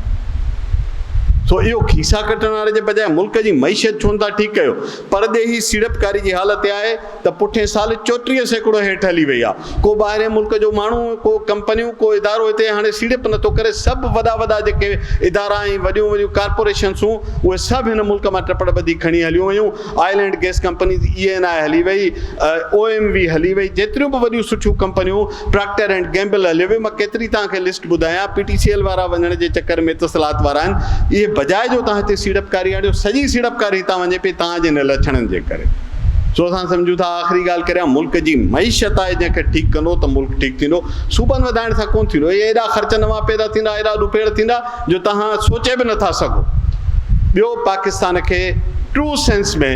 سو اهو کيسا ڪٽڻ واري جي بجاء ملڪ جي معيشت ڇو نه ٿا ٺيڪ ڪيو پرڏيهي سيڙپڪاري جي حالت اها آهي ته پٺئين سال چوٽيهه سيڪڙو هيٺ هلي وئي آهي. ڪو ٻاهرئين ملڪ جو ماڻهو، ڪو ڪمپنيون، ڪو ادارو هتي هاڻي سيڙپ نه ٿو ڪري. سڀ وڏا وڏا جيڪي ادارا ۽ وڏيون وڏيون ڪارپوريشنسون اهي سڀ هن ملڪ مان ٽپڙ ٻڌي کڻي هليون ويون. Oil and gas companies, E N I هلي وئي، او ايم وي هلي وئي، جيتريون به وڏيون سٺيون ڪمپنيون پراڪٽر اينڊ گيمبل هليو ويو، مان ڪيتري توهان کي لسٽ ٻڌايان، پي ٽي سي ايل وارا وڃڻ جي چڪر ۾ اتصالات وارا آهن، اهي بجاء جو توهان هتي سيڙپڪاري آڻيو، سڄي سيڙپڪاري هتان وڃي پئي توهان جي هن لڇڻن جي ڪري. سو اسان سمجهون ٿا آخري ڳالهه ڪريان ملڪ جي معيشت آهي جنهن کي ٺيڪ ڪندو ته ملڪ ٺيڪ ٿيندو، صوبن وڌائڻ سان ڪونه ٿيندو، اهي ايڏا خرچ نوان پيدا ٿيندا، ايڏا ڏوپيڙ ٿيندا. جو توهان سوچي به نٿا سگهو. ٻيو پاڪستان کي ٽرو سينس ۾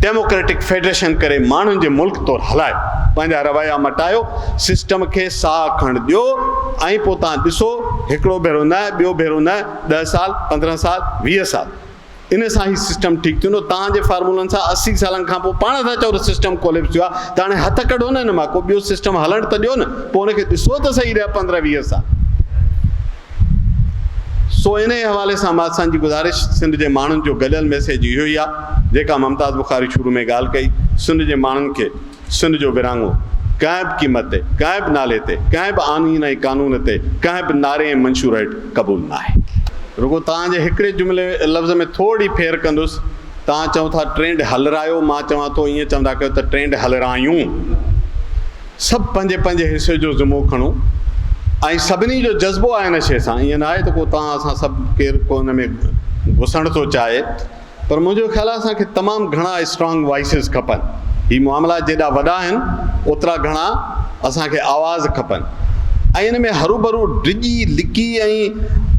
ڊيموڪريٽڪ فيڊريشن ڪري ماڻهن جي ملڪ طور هلايو. پنهنجا رويا مٽايو، سسٽم کي ساهه کڻڻ ڏيو ۽ پوء توهان ڏسو هڪڙو ڀيرو نه، ٻيو ڀيرو نه، ڏهه سال، پندرهن سال، ويهه سال. ان سان هي سسٽم ٺيڪ ٿيندو توهان جي فارمولن سان اسي سالن کان پوء پاڻ ٿا چئو ته سسٽم ڪوليپس ٿيو آهي ته هاڻي هٿ ڪڍو نه هن مان ڪو ٻيو سسٽم هلڻ ته ڏيو نه پوء ان کي ڏسو ته صحيح رهيا پندرهن ويهه سال سو ان حوالي سان مان اسان جي گذارش سنڌ جي ماڻهن جو گڏيل ميسيج اهو ئي آهي جيڪا ممتاز بخاري شروع ۾ ڳالهه ڪئي سنڌ جي ماڻهن کي سنڌ جو ورهاڱو ڪنهن به قيمت تي، ڪنهن به نالي تي، ڪنهن به آئين ۽ قانون تي، ڪنهن به نعري ۽ منشور هيٺ قبول ناهي. رڳو توهان جي هڪڙي جملي لفظ ۾ ٿورڙي ڦير ڪندس، توهان چئو ٿا ٽرينڊ هلرايو، مان چوان ٿو ائين چوندا ڪيو ته ٽرينڊ هلرايون. سڀ پنهنجي پنهنجي حصي جو ذمو کڻو ۽ سڀني جو جذبو آهي ان شيء سان، ائين ناهي ته ڪو توهان اسان سڀ ڪير ڪو ان ۾ گسڻ ٿو چاهي، پر منهنجو خيال آهي اسان کي تمام گهڻا اسٽرانگ وائسز کپن. هي معاملا جيڏا وڏا آهن اوترا گهڻا اسان کي آواز کپن ۽ ان ۾ هروڀرو ڊڄي لڪي ۽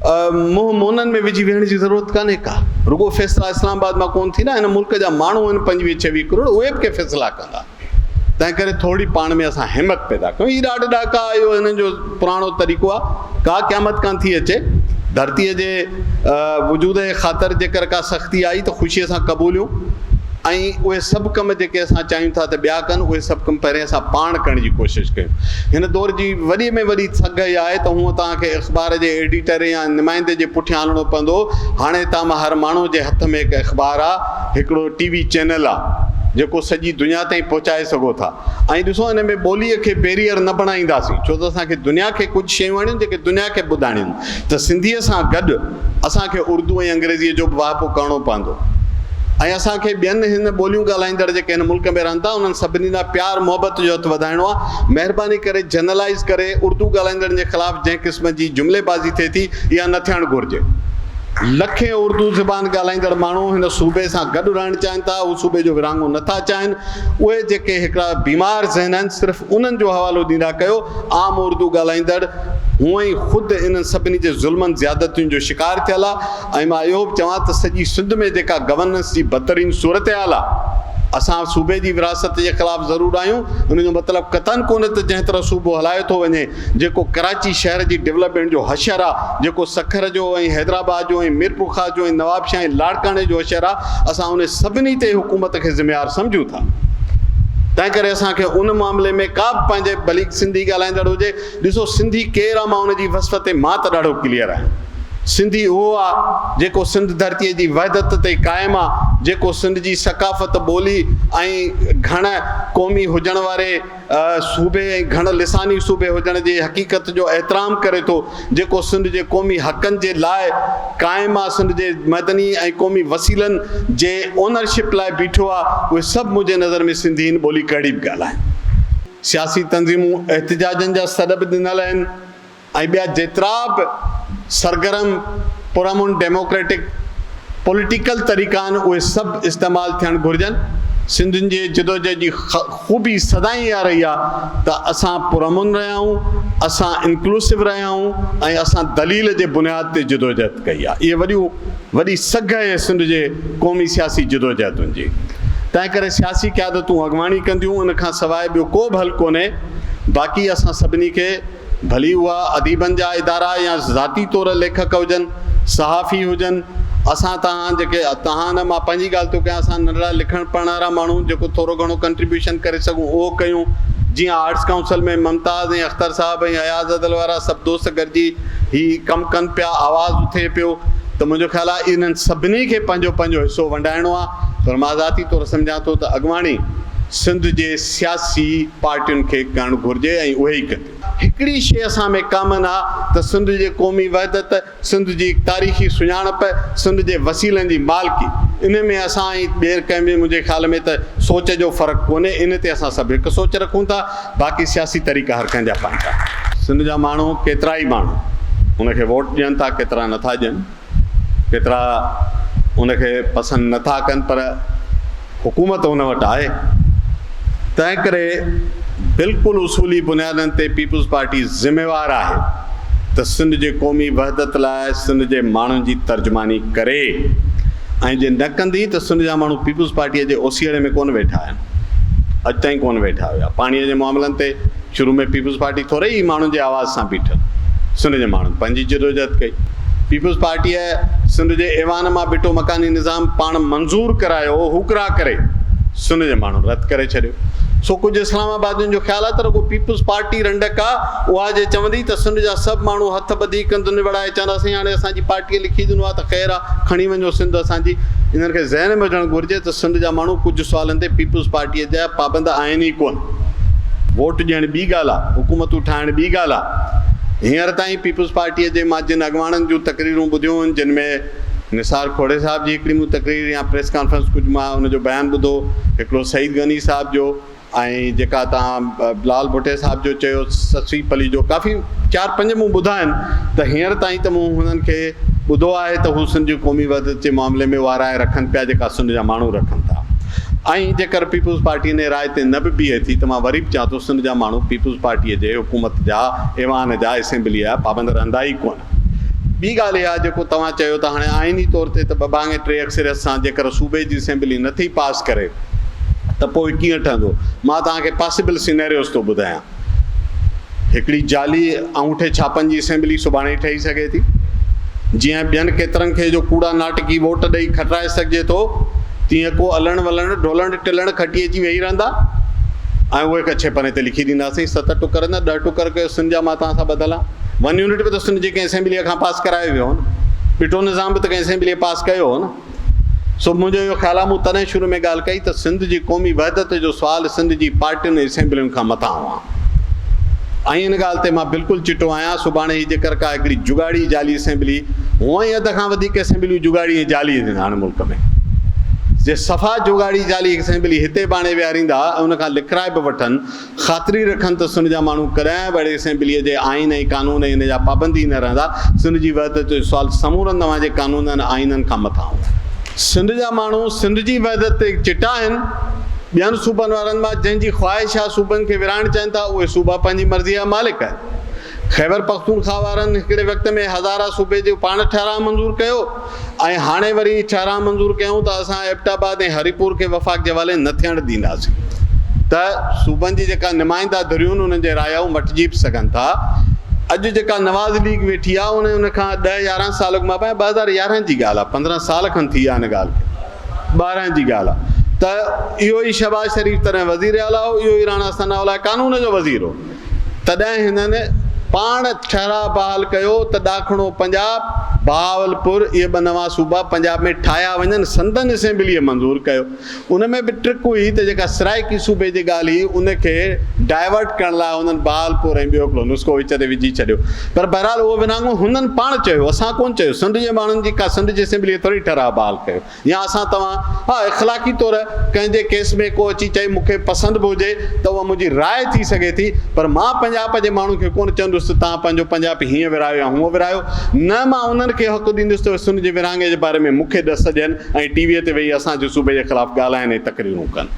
منهن مونن ۾ وجهي ويهڻ جي ضرورت ڪانهي ڪا. رڳو فيصلا اسلام آباد مان ڪونه ٿيندا، هن ملڪ جا ماڻهو آهن پنجويهه ڇويهه ڪروڙ اهي به ڪي فيصلا ڪندا. تنهن ڪري ٿورڙي پاڻ ۾ اسان همت پيدا ڪيون. هي ڏاڍ ڏاڪا اهو هنن جو پراڻو طريقو آ. ڪا قيامت ڪانه ٿي اچي. ڌرتيء جي وجود جي خاطر جيڪر ڪا سختي آئي ته خوشيء سان قبوليون ۽ اهي سڀ ڪم جيڪي اسان چاهيون ٿا ته ٻيا ڪن اهي سڀ ڪم پهرين اسان پاڻ ڪرڻ جي ڪوشش ڪيون. هن دور جي وڏي ۾ وڏي سگهه اها آهي ته هونء توهان کي اخبار جي ايڊيٽر يا نمائندي جي پٺيان هلڻو پوندو. هاڻي هتان مان هر ماڻهوء جي هٿ ۾ هڪ اخبار آ. هڪڙو ٽي وي چينل آ جيڪو سڄي دنيا تائين پهچائي سگهو ٿا ۽ ڏسو ان ۾ ٻولي کي بيريئر نه بڻائينداسين ڇو ته اسان کي دنيا کي ڪجهه شيون آڻيون جيڪي دنيا کي ٻڌائڻيون ته سنڌي سان گڏ اسان کي اردو ۽ انگريزي جو به واهپو ڪرڻو پوندو ۽ اسان کي ٻين هن ٻوليون ڳالهائيندڙ جيڪي هن ملڪ ۾ رهن ٿا انهن سڀني ڏانهن پيار محبت جو هٿ وڌائڻو آ مهرباني ڪري جنرلائيز ڪري اردو ڳالهائيندڙن جي خلاف جنهن قسم جي جملي بازي ٿئي ٿي اها نه ٿيڻ گهرجي. لکين اردو زبان ڳالهائيندڙ ماڻهو هن صوبي سان گڏ رهڻ چاهين ٿا، هو صوبي جو ورهاڱو نه ٿا چاهين. اهي جيڪي هڪڙا بيمار ذهن آهن، صرف انهن جو حوالو ڏيندا ڪيو. عام اردو ڳالهائيندڙ هونء ئي خود انهن سڀني جي ظلمن زيادتين جو شڪار ٿيل آ ۽ مان اهو به چوان ته سڄي سنڌ ۾ جيڪا گورننس جي بدترين صورتحال آ، اسان صوبي جي ورهاست جي خلاف ضرور آهيون، ان جو مطلب قطعاً ڪونهي ته جنهن طرح صوبو هلايو ٿو وڃي، جيڪو ڪراچي شهر جي ڊولپمينٽ جو حشر آ، جيڪو سکر جو ۽ حيدرآباد جو ۽ ميرپورخاص جو ۽ نوابشاهه ۽ لاڙڪاڻي جو حشر آ، اسان ان سڀني تي حڪومت کي ذميوار سمجهون ٿا. تنهنڪري اسان کي ان معاملي ۾ ڪا به پنهنجي ڀلي سنڌي ڳالهائيندڙ هجي، ڏسو سنڌي ڪير آ مان ان جي وصف تي مان ته ڏاڍو ڪليئر آهيان. سنڌي اهو آ جيڪو سنڌ ڌرتيء جي وحدت تي قائم آ، جيڪو سنڌ جي ثقافت، ٻولي ۽ گهڻ قومي هجڻ واري، صوبي ۽ گهڻ لساني صوبي هجڻ جي حقيقت جو احترام ڪري ٿو جيڪو سنڌ جي قومي حقن جي لاء قائم آ سنڌ جي معدني ۽ قومي وسيلن جي اونر شپ لاء بيٺو آ اهي سڀ منهنجي نظر ۾ سنڌي هن ٻولي ڪهڙي به ڳالهائين سياسي تنظيمون احتجاجن جا سڏ به ڏنل آهن. ۽ ٻيا جيترا به سرگرم پرامن ڊيموڪريٽڪ پوليٽيڪل طريقا آهن اهي سڀ استعمال ٿيڻ گهرجن، سنڌين جي جدوجهد جي خوبي سدائين اها رهي آهي ته اسان پرامن رهيا آهيون، اسان انڪلوسو رهيا آهيون ۽ اسان دليل جي بنياد تي جدوجهد ڪئي آهي، اهي وڏيون وڏي سگهه اهي سنڌ جي قومي سياسي جدوجهدن جي تنهنڪري سياسي قيادتون اڳواڻي ڪنديون ان کان سواء ٻيو ڪو به حل ڪونهي باقي اسان سڀني کي. ڀلي اها اديبن جا ادارا يا ذاتي طور ليکڪ هجن، صحافي هجن، اسان توهان جيڪي توهان نه مان پنهنجي ڳالهه ٿو ڪيان اسان ننڍڙا لکڻ پڙهڻ وارا ماڻهو جيڪو ٿورو گهڻو ڪنٽريبيوشن ڪري سگهون اهو ڪيون جيئن آرٽس ڪائونسل ۾ ممتاز ۽ اختر صاحب ۽ اياز ادل وارا سڀ دوست گڏجي هي ڪم ڪن پيا آواز اٿئي پيو ته منهنجو خيال آهي انهن سڀني کي پنهنجو پنهنجو حصو ونڊائڻو آهي پر مان ذاتي طور سمجهان ٿو ته اڳواڻي سنڌ جي سياسي پارٽين کي ڪرڻ گهرجي ۽ اهي ئي ڪن. هڪڙي شيء اسان ۾ ڪامن آ ته سنڌ جي قومي وحدت، سنڌ جي تاريخي سڃاڻپ، سنڌ جي وسيلن جي مالڪي. انهي ۾ اسان ۽ ٻير ڪنهن ۾ منهنجي خيال ۾ ته سوچ جو فرق ڪونهي، انهي تي اسان سڀ هڪ سوچ رکون ٿا، باقي سياسي طريقا هر ڪنهن جا پنهنجا. سنڌ جا ماڻهو ڪيترائي ماڻهو ان کي ووٽ ڏين ٿا ڪيترا نٿا ڏين. ڪيترا ان کي پسند نه ٿا ڪن پر حڪومت ان وٽ آهي تنهن ڪري بلڪل اصولي بنيادن تي پيپلز پارٽي ذميوار آهي ته سنڌ جي قومي وحدت لاء سنڌ جي ماڻهن جي ترجماني ڪري ۽ جي نه ڪندي ته سنڌ جا ماڻهو پيپلز پارٽي جي اوسيئڙي ۾ ڪونه ويٺا آهن اڄ تائين ڪونه ويٺا هيا پاڻي جي معاملن تي شروع ۾ پيپلز پارٽي ٿوري ئي ماڻهن جي آواز سان بيٺل سنڌ جي ماڻهن پنهنجي جدوجهد ڪئي. پيپلز پارٽيء سنڌ جي ايوان مان ڀٽو مڪاني نظام پاڻ منظور ڪرايو هو ڪرا ڪري سنڌ جي ماڻهن رد ڪري ڇڏيو. سو ڪجهه اسلام آبادين جو خيال آهي ته رڳو پيپلز پارٽي رنڊڪ آ اها جي چوندي ته سنڌ جا سڀ ماڻهو هٿ ٻڌي ڪنڌ نوڙائي چوندا سائين هاڻي اسان جي پارٽيء لکي ڏنو آ ته خير آ کڻي وڃو سنڌ اسان جي. انهن کي ذهن ۾ هجڻ گهرجي ته سنڌ جا ماڻهو ڪجهه سوالن تي پيپلز پارٽيء جا پابند آهن ئي ڪونه. ووٽ ڏيڻ ٻي ڳالهه آ، حڪومتون ٺاهڻ ٻي ڳالهه آ، هينئر تائين پيپلز پارٽيء جي مان جن اڳواڻن جون تقريرون ٻڌيون هن جن ۾ نثار کوڙي صاحب جي هڪڙي مون تقرير يا پريس ڪانفرنس ڪجهه مان ان جو بيان ٻڌو، هڪڙو سعيد غني صاحب جو ۽ جيڪا توهان بلال ڀٽي صاحب جو چيو سسئي پلي جو ڪافي چار پنج مون ٻڌا آهن ته هينئر تائين ته مون هنن کي ٻڌو آهي ته هو سنڌ جي قومي وحدت جي معاملي ۾ اها راء رکن پيا جيڪا سنڌ جا ماڻهو رکن ٿا. ۽ جيڪر پيپلز پارٽيء نئين راء تي نه به بيهي ٿي ته مان وري به چوان ٿو سنڌ جا ماڻهو پيپلز پارٽيء جي حڪومت جا ايوان جا اسيمبليء جا پابند رهندا ئي ڪونه. ٻي ڳالهه اها جيڪو توهان چيو ته هاڻي آئيني طور تي ته ٻه ڀاڱي ٽي اڪثريت سان جيڪر صوبي جي اسيمبلي نه ٿي پاس ڪري ته پوء ڪيئن ٺهندو؟ مان توهان کي پاسيبل سينيريوز ٿو ٻڌايان. هڪڙي جعلي انگوٺي ڇاپن جي اسيمبلي سڀاڻي ٺهي سگهي ٿي، جيئن ٻين ڪيترن کي جو ڪوڙا ناٽڪي ووٽ ڏئي کٽرائي سگهجي ٿو، تيئن ڪو الڻ ولڻ، ڍولڻ ٽلڻ کٽي اچي ويهي رهندا ۽ اهي ڪڇي پني تي لکي ڏيندا اسين ست ٽڪر نه ڏهه ٽڪر ڪيو سن جا مان توهان سان ٻڌل آهان. ون يونٽ به ته سن جي ڪنهن اسيمبليء کان پاس ڪرايو ويو هو نه. ٻٽو نظام به ته ڪنهن اسيمبليء پاس ڪيو هو نه. سو منهنجو اهو خيال آهي، مون تڏهن شروع ۾ ڳالهه ڪئي ته سنڌ جي قومي وحدت جو سوال سنڌ جي پارٽين ۽ اسيمبلين کان مٿان هئا ۽ ان ڳالهه تي مان بلڪل چٽو آهيان، سڀاڻي هي جيڪر ڪا هڪڙي جڳاڙي جعلي اسيمبلي، هونء ئي اڌ کان وڌيڪ اسيمبليون جڳاڙي ۽ جعلي هونديون هاڻ ملڪ ۾، جي صفا جوڳاڙي جعلي اسيمبلي هتي ڀاڻي ويهاريندا ۽ ان کان لکرائي به وٺن خاطري رکن ته سنڌ جا ماڻهو ڪڏهن به اهڙي اسيمبليء جي آئين ۽ قانون ۽ ان جا پابند ئي نه رهندا. سنڌ جي وحدت جو سوال سمورن توهان جي قانونن آئينن کان مٿان هوندو. سنڌ جا ماڻهو سنڌ جي وحدت تي چٽا آهن. ٻين صوبن وارن مان جنهن جي خواهش آهي صوبن کي ورهائڻ چاهين ٿا اهي صوبا پنهنجي مرضيء جا مالڪ آهن. خيبرپختونخواه وارن هڪڙي وقت ۾ هزاره صوبي جو پاڻ ٺهراء منظور ڪيو. ۽ هاڻي وري ڇا راء منظور ڪيون ته اسان ايبٽ آباد ۽ هري پور کي وفاق جي حوالي نه ٿيڻ ڏينداسين ته صوبن جي جيڪا نمائنده ڌريون انهن جي رايائون مٽجي به سگهن ٿا اڄ جيڪا نواز ليگ ويٺي آ ان ان کان ڏهه يارهن سال اڳ مان ٻه هزار يارهن جي ڳالهه آ پندرهن سال کن ٿي ويا ان ڳالهه کي ٻارهن جي ڳالهه آ ته اهو ئي شهباز شريف تڏهن وزير اعليٰ هو اهو ئي راڻا ثناء الله قانون جو وزير هو تڏهن هنن پاڻ ٺهراء بحال ڪيو ته ڏاکڻو پنجاب، بهاولپور، اهي ٻه نوان صوبا پنجاب ۾ ٺاهيا وڃن. سندن اسيمبليء منظور ڪيو. ان ۾ به ٽرڪ هئي ته جيڪا سرائيڪي صوبي جي ڳالهه هئي، ان کي ڊائيورٽ ڪرڻ لاء هنن بهاولپور ۽ ٻيو هڪڙو نسخو وچ تي وجهي ڇڏيو. پر بهرحال اهو ورهاڱو هنن پاڻ چيو هو، اسان ڪونه چيو. سنڌ جي ماڻهن جي ڪا سنڌ جي اسيمبليء ٿوري ٺهراء بحال ڪيو. يا اسان توهان، ها اخلاقي طور ڪنهن جي ڪيس ۾ ڪو اچي چئي مون کي پسند به هجي ته اها منهنجي راء ٿي سگهي ٿي پر مان پنجاپ جي ماڻهن کي ڪونه چوندس ته توهان پنهنجو پنجاپ هيئن ورهايو يا هونئن ورهايو نه مان انهن کي حق ڏيندس ته اهي سن جي ورهاڱي جي باري ۾ مون کي ڏس ڏين ۽ ٽي وي تي ويهي اسان جي صوبي جي خلاف ڳالهائن ۽ تقريرون ڪن.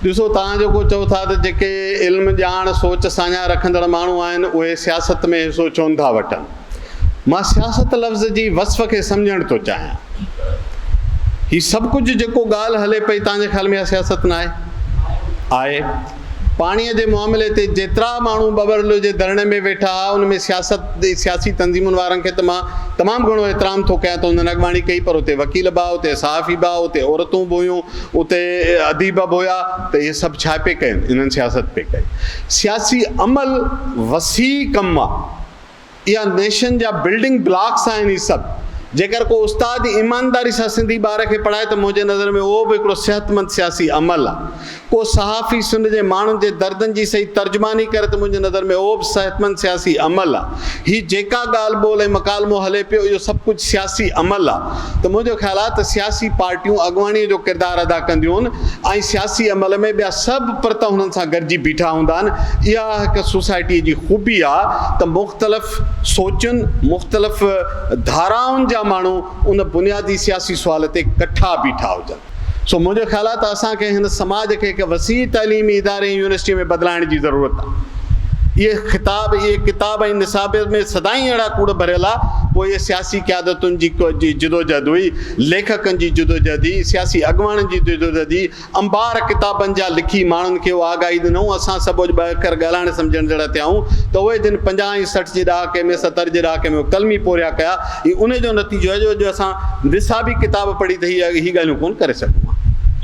ڏسو توهان جيڪو چئو ٿا ته جيڪي علم ڄاڻ سوچ ساڃاهه رکندڙ ماڻهو آهن اهي سياست ۾ حصو ڇو نٿا وٺن. مان سياست لفظ جي وصف کي سمجهڻ ٿو چاهيان. هي سڀ ڪجهه جيڪو ڳالهه هلي پئي توهان جي خيال ۾ اها سياست ناهي؟ آهي. پاڻيء جي معاملي تي جيترا ماڻهو ٻٻرلو جي ڌرڻي ۾ ويٺا ها ان ۾ سياست جي سياسي تنظيمن وارن کي ته مان تمام گهڻو احترام ٿو ڪيان ته انهن اڳواڻي ڪئي پر اتي وڪيل به ها اتي صحافي به ها اتي عورتون به هيون اتي اديب به هيا ته اهي سڀ ڇا پئي ڪين انهن سياست پئي ڪئي سياسي عمل وسيع ڪم آهي. اها نيشن جا بلڊنگ بلاڪس آهن هي سڀ جيڪر ڪو استاد ايمانداري سان سنڌي ٻار کي پڙهائي ته منهنجي نظر ۾ اهو به هڪڙو صحتمند سياسي عمل آ ڪو صحافي سنڌ جي ماڻهن جي دردن جي صحيح ترجماني ڪري ته منهنجي نظر ۾ اهو به صحتمند سياسي عمل آ هي جيڪا ڳالهه ٻولهه ۽ مڪالمو هلي پيو اهو سڀ ڪجهه سياسي عمل آ. ته منهنجو خيال آهي ته سياسي پارٽيون اڳواڻيء جو ڪردار ادا ڪنديون ۽ سياسي عمل ۾ ٻيا سڀ پرت هنن سان گڏجي بيٺا هوندا آهن. اها هڪ سوسائٽيء جي خوبي آهي ته مختلف سوچن، مختلف ڌارائن جا ماڻهو ان بنيادي سياسي سوال تي ڪٺا بيٺا هجن. سو منهنجو خيال آهي ته اسان کي هن سماج کي هڪ وسيع تعليمي اداري ۽ يونيورسٽي ۾ بدلائڻ جي ضرورت آهي. اهي خطاب، اهي ڪتاب ۽ نصاب ۾ سدائين اهڙا ڪوڙ ڀريل آ، پوء اهي سياسي قيادتن جي جدوجهد هئي، ليکڪن جي جدوجهد هئي، سياسي اڳواڻن جي جدوجهد هئي، انبار ڪتابن جا لکي ماڻهن کي اهو آگاهي ڏنائون، اسان سڀ اڄ ٻه اکر ڳالهائڻ سمجهڻ جهڙا ٿيا آهيون ته اهي جن پنجاهه ۽ سٺ جي ڏهاڪي ۾، ستر جي ڏهاڪي ۾، ڪلمي پورهيا ڪيا، هي انهي جو نتيجو آهي جو اڄ اسان نصابي ڪتاب پڙهي ته هي هي ڳالهيون ڪونه ڪري سگهون ها.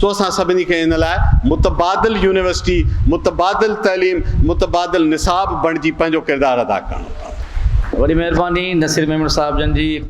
سو اسان سڀني کي ان لاء متبادل يونيورسٽي، متبادل تعليم، متبادل نصاب بڻجي پنهنجو ڪردار ادا ڪرڻو پوندو. وڏي مهرباني نصير ميمڻ صاحب جن جي.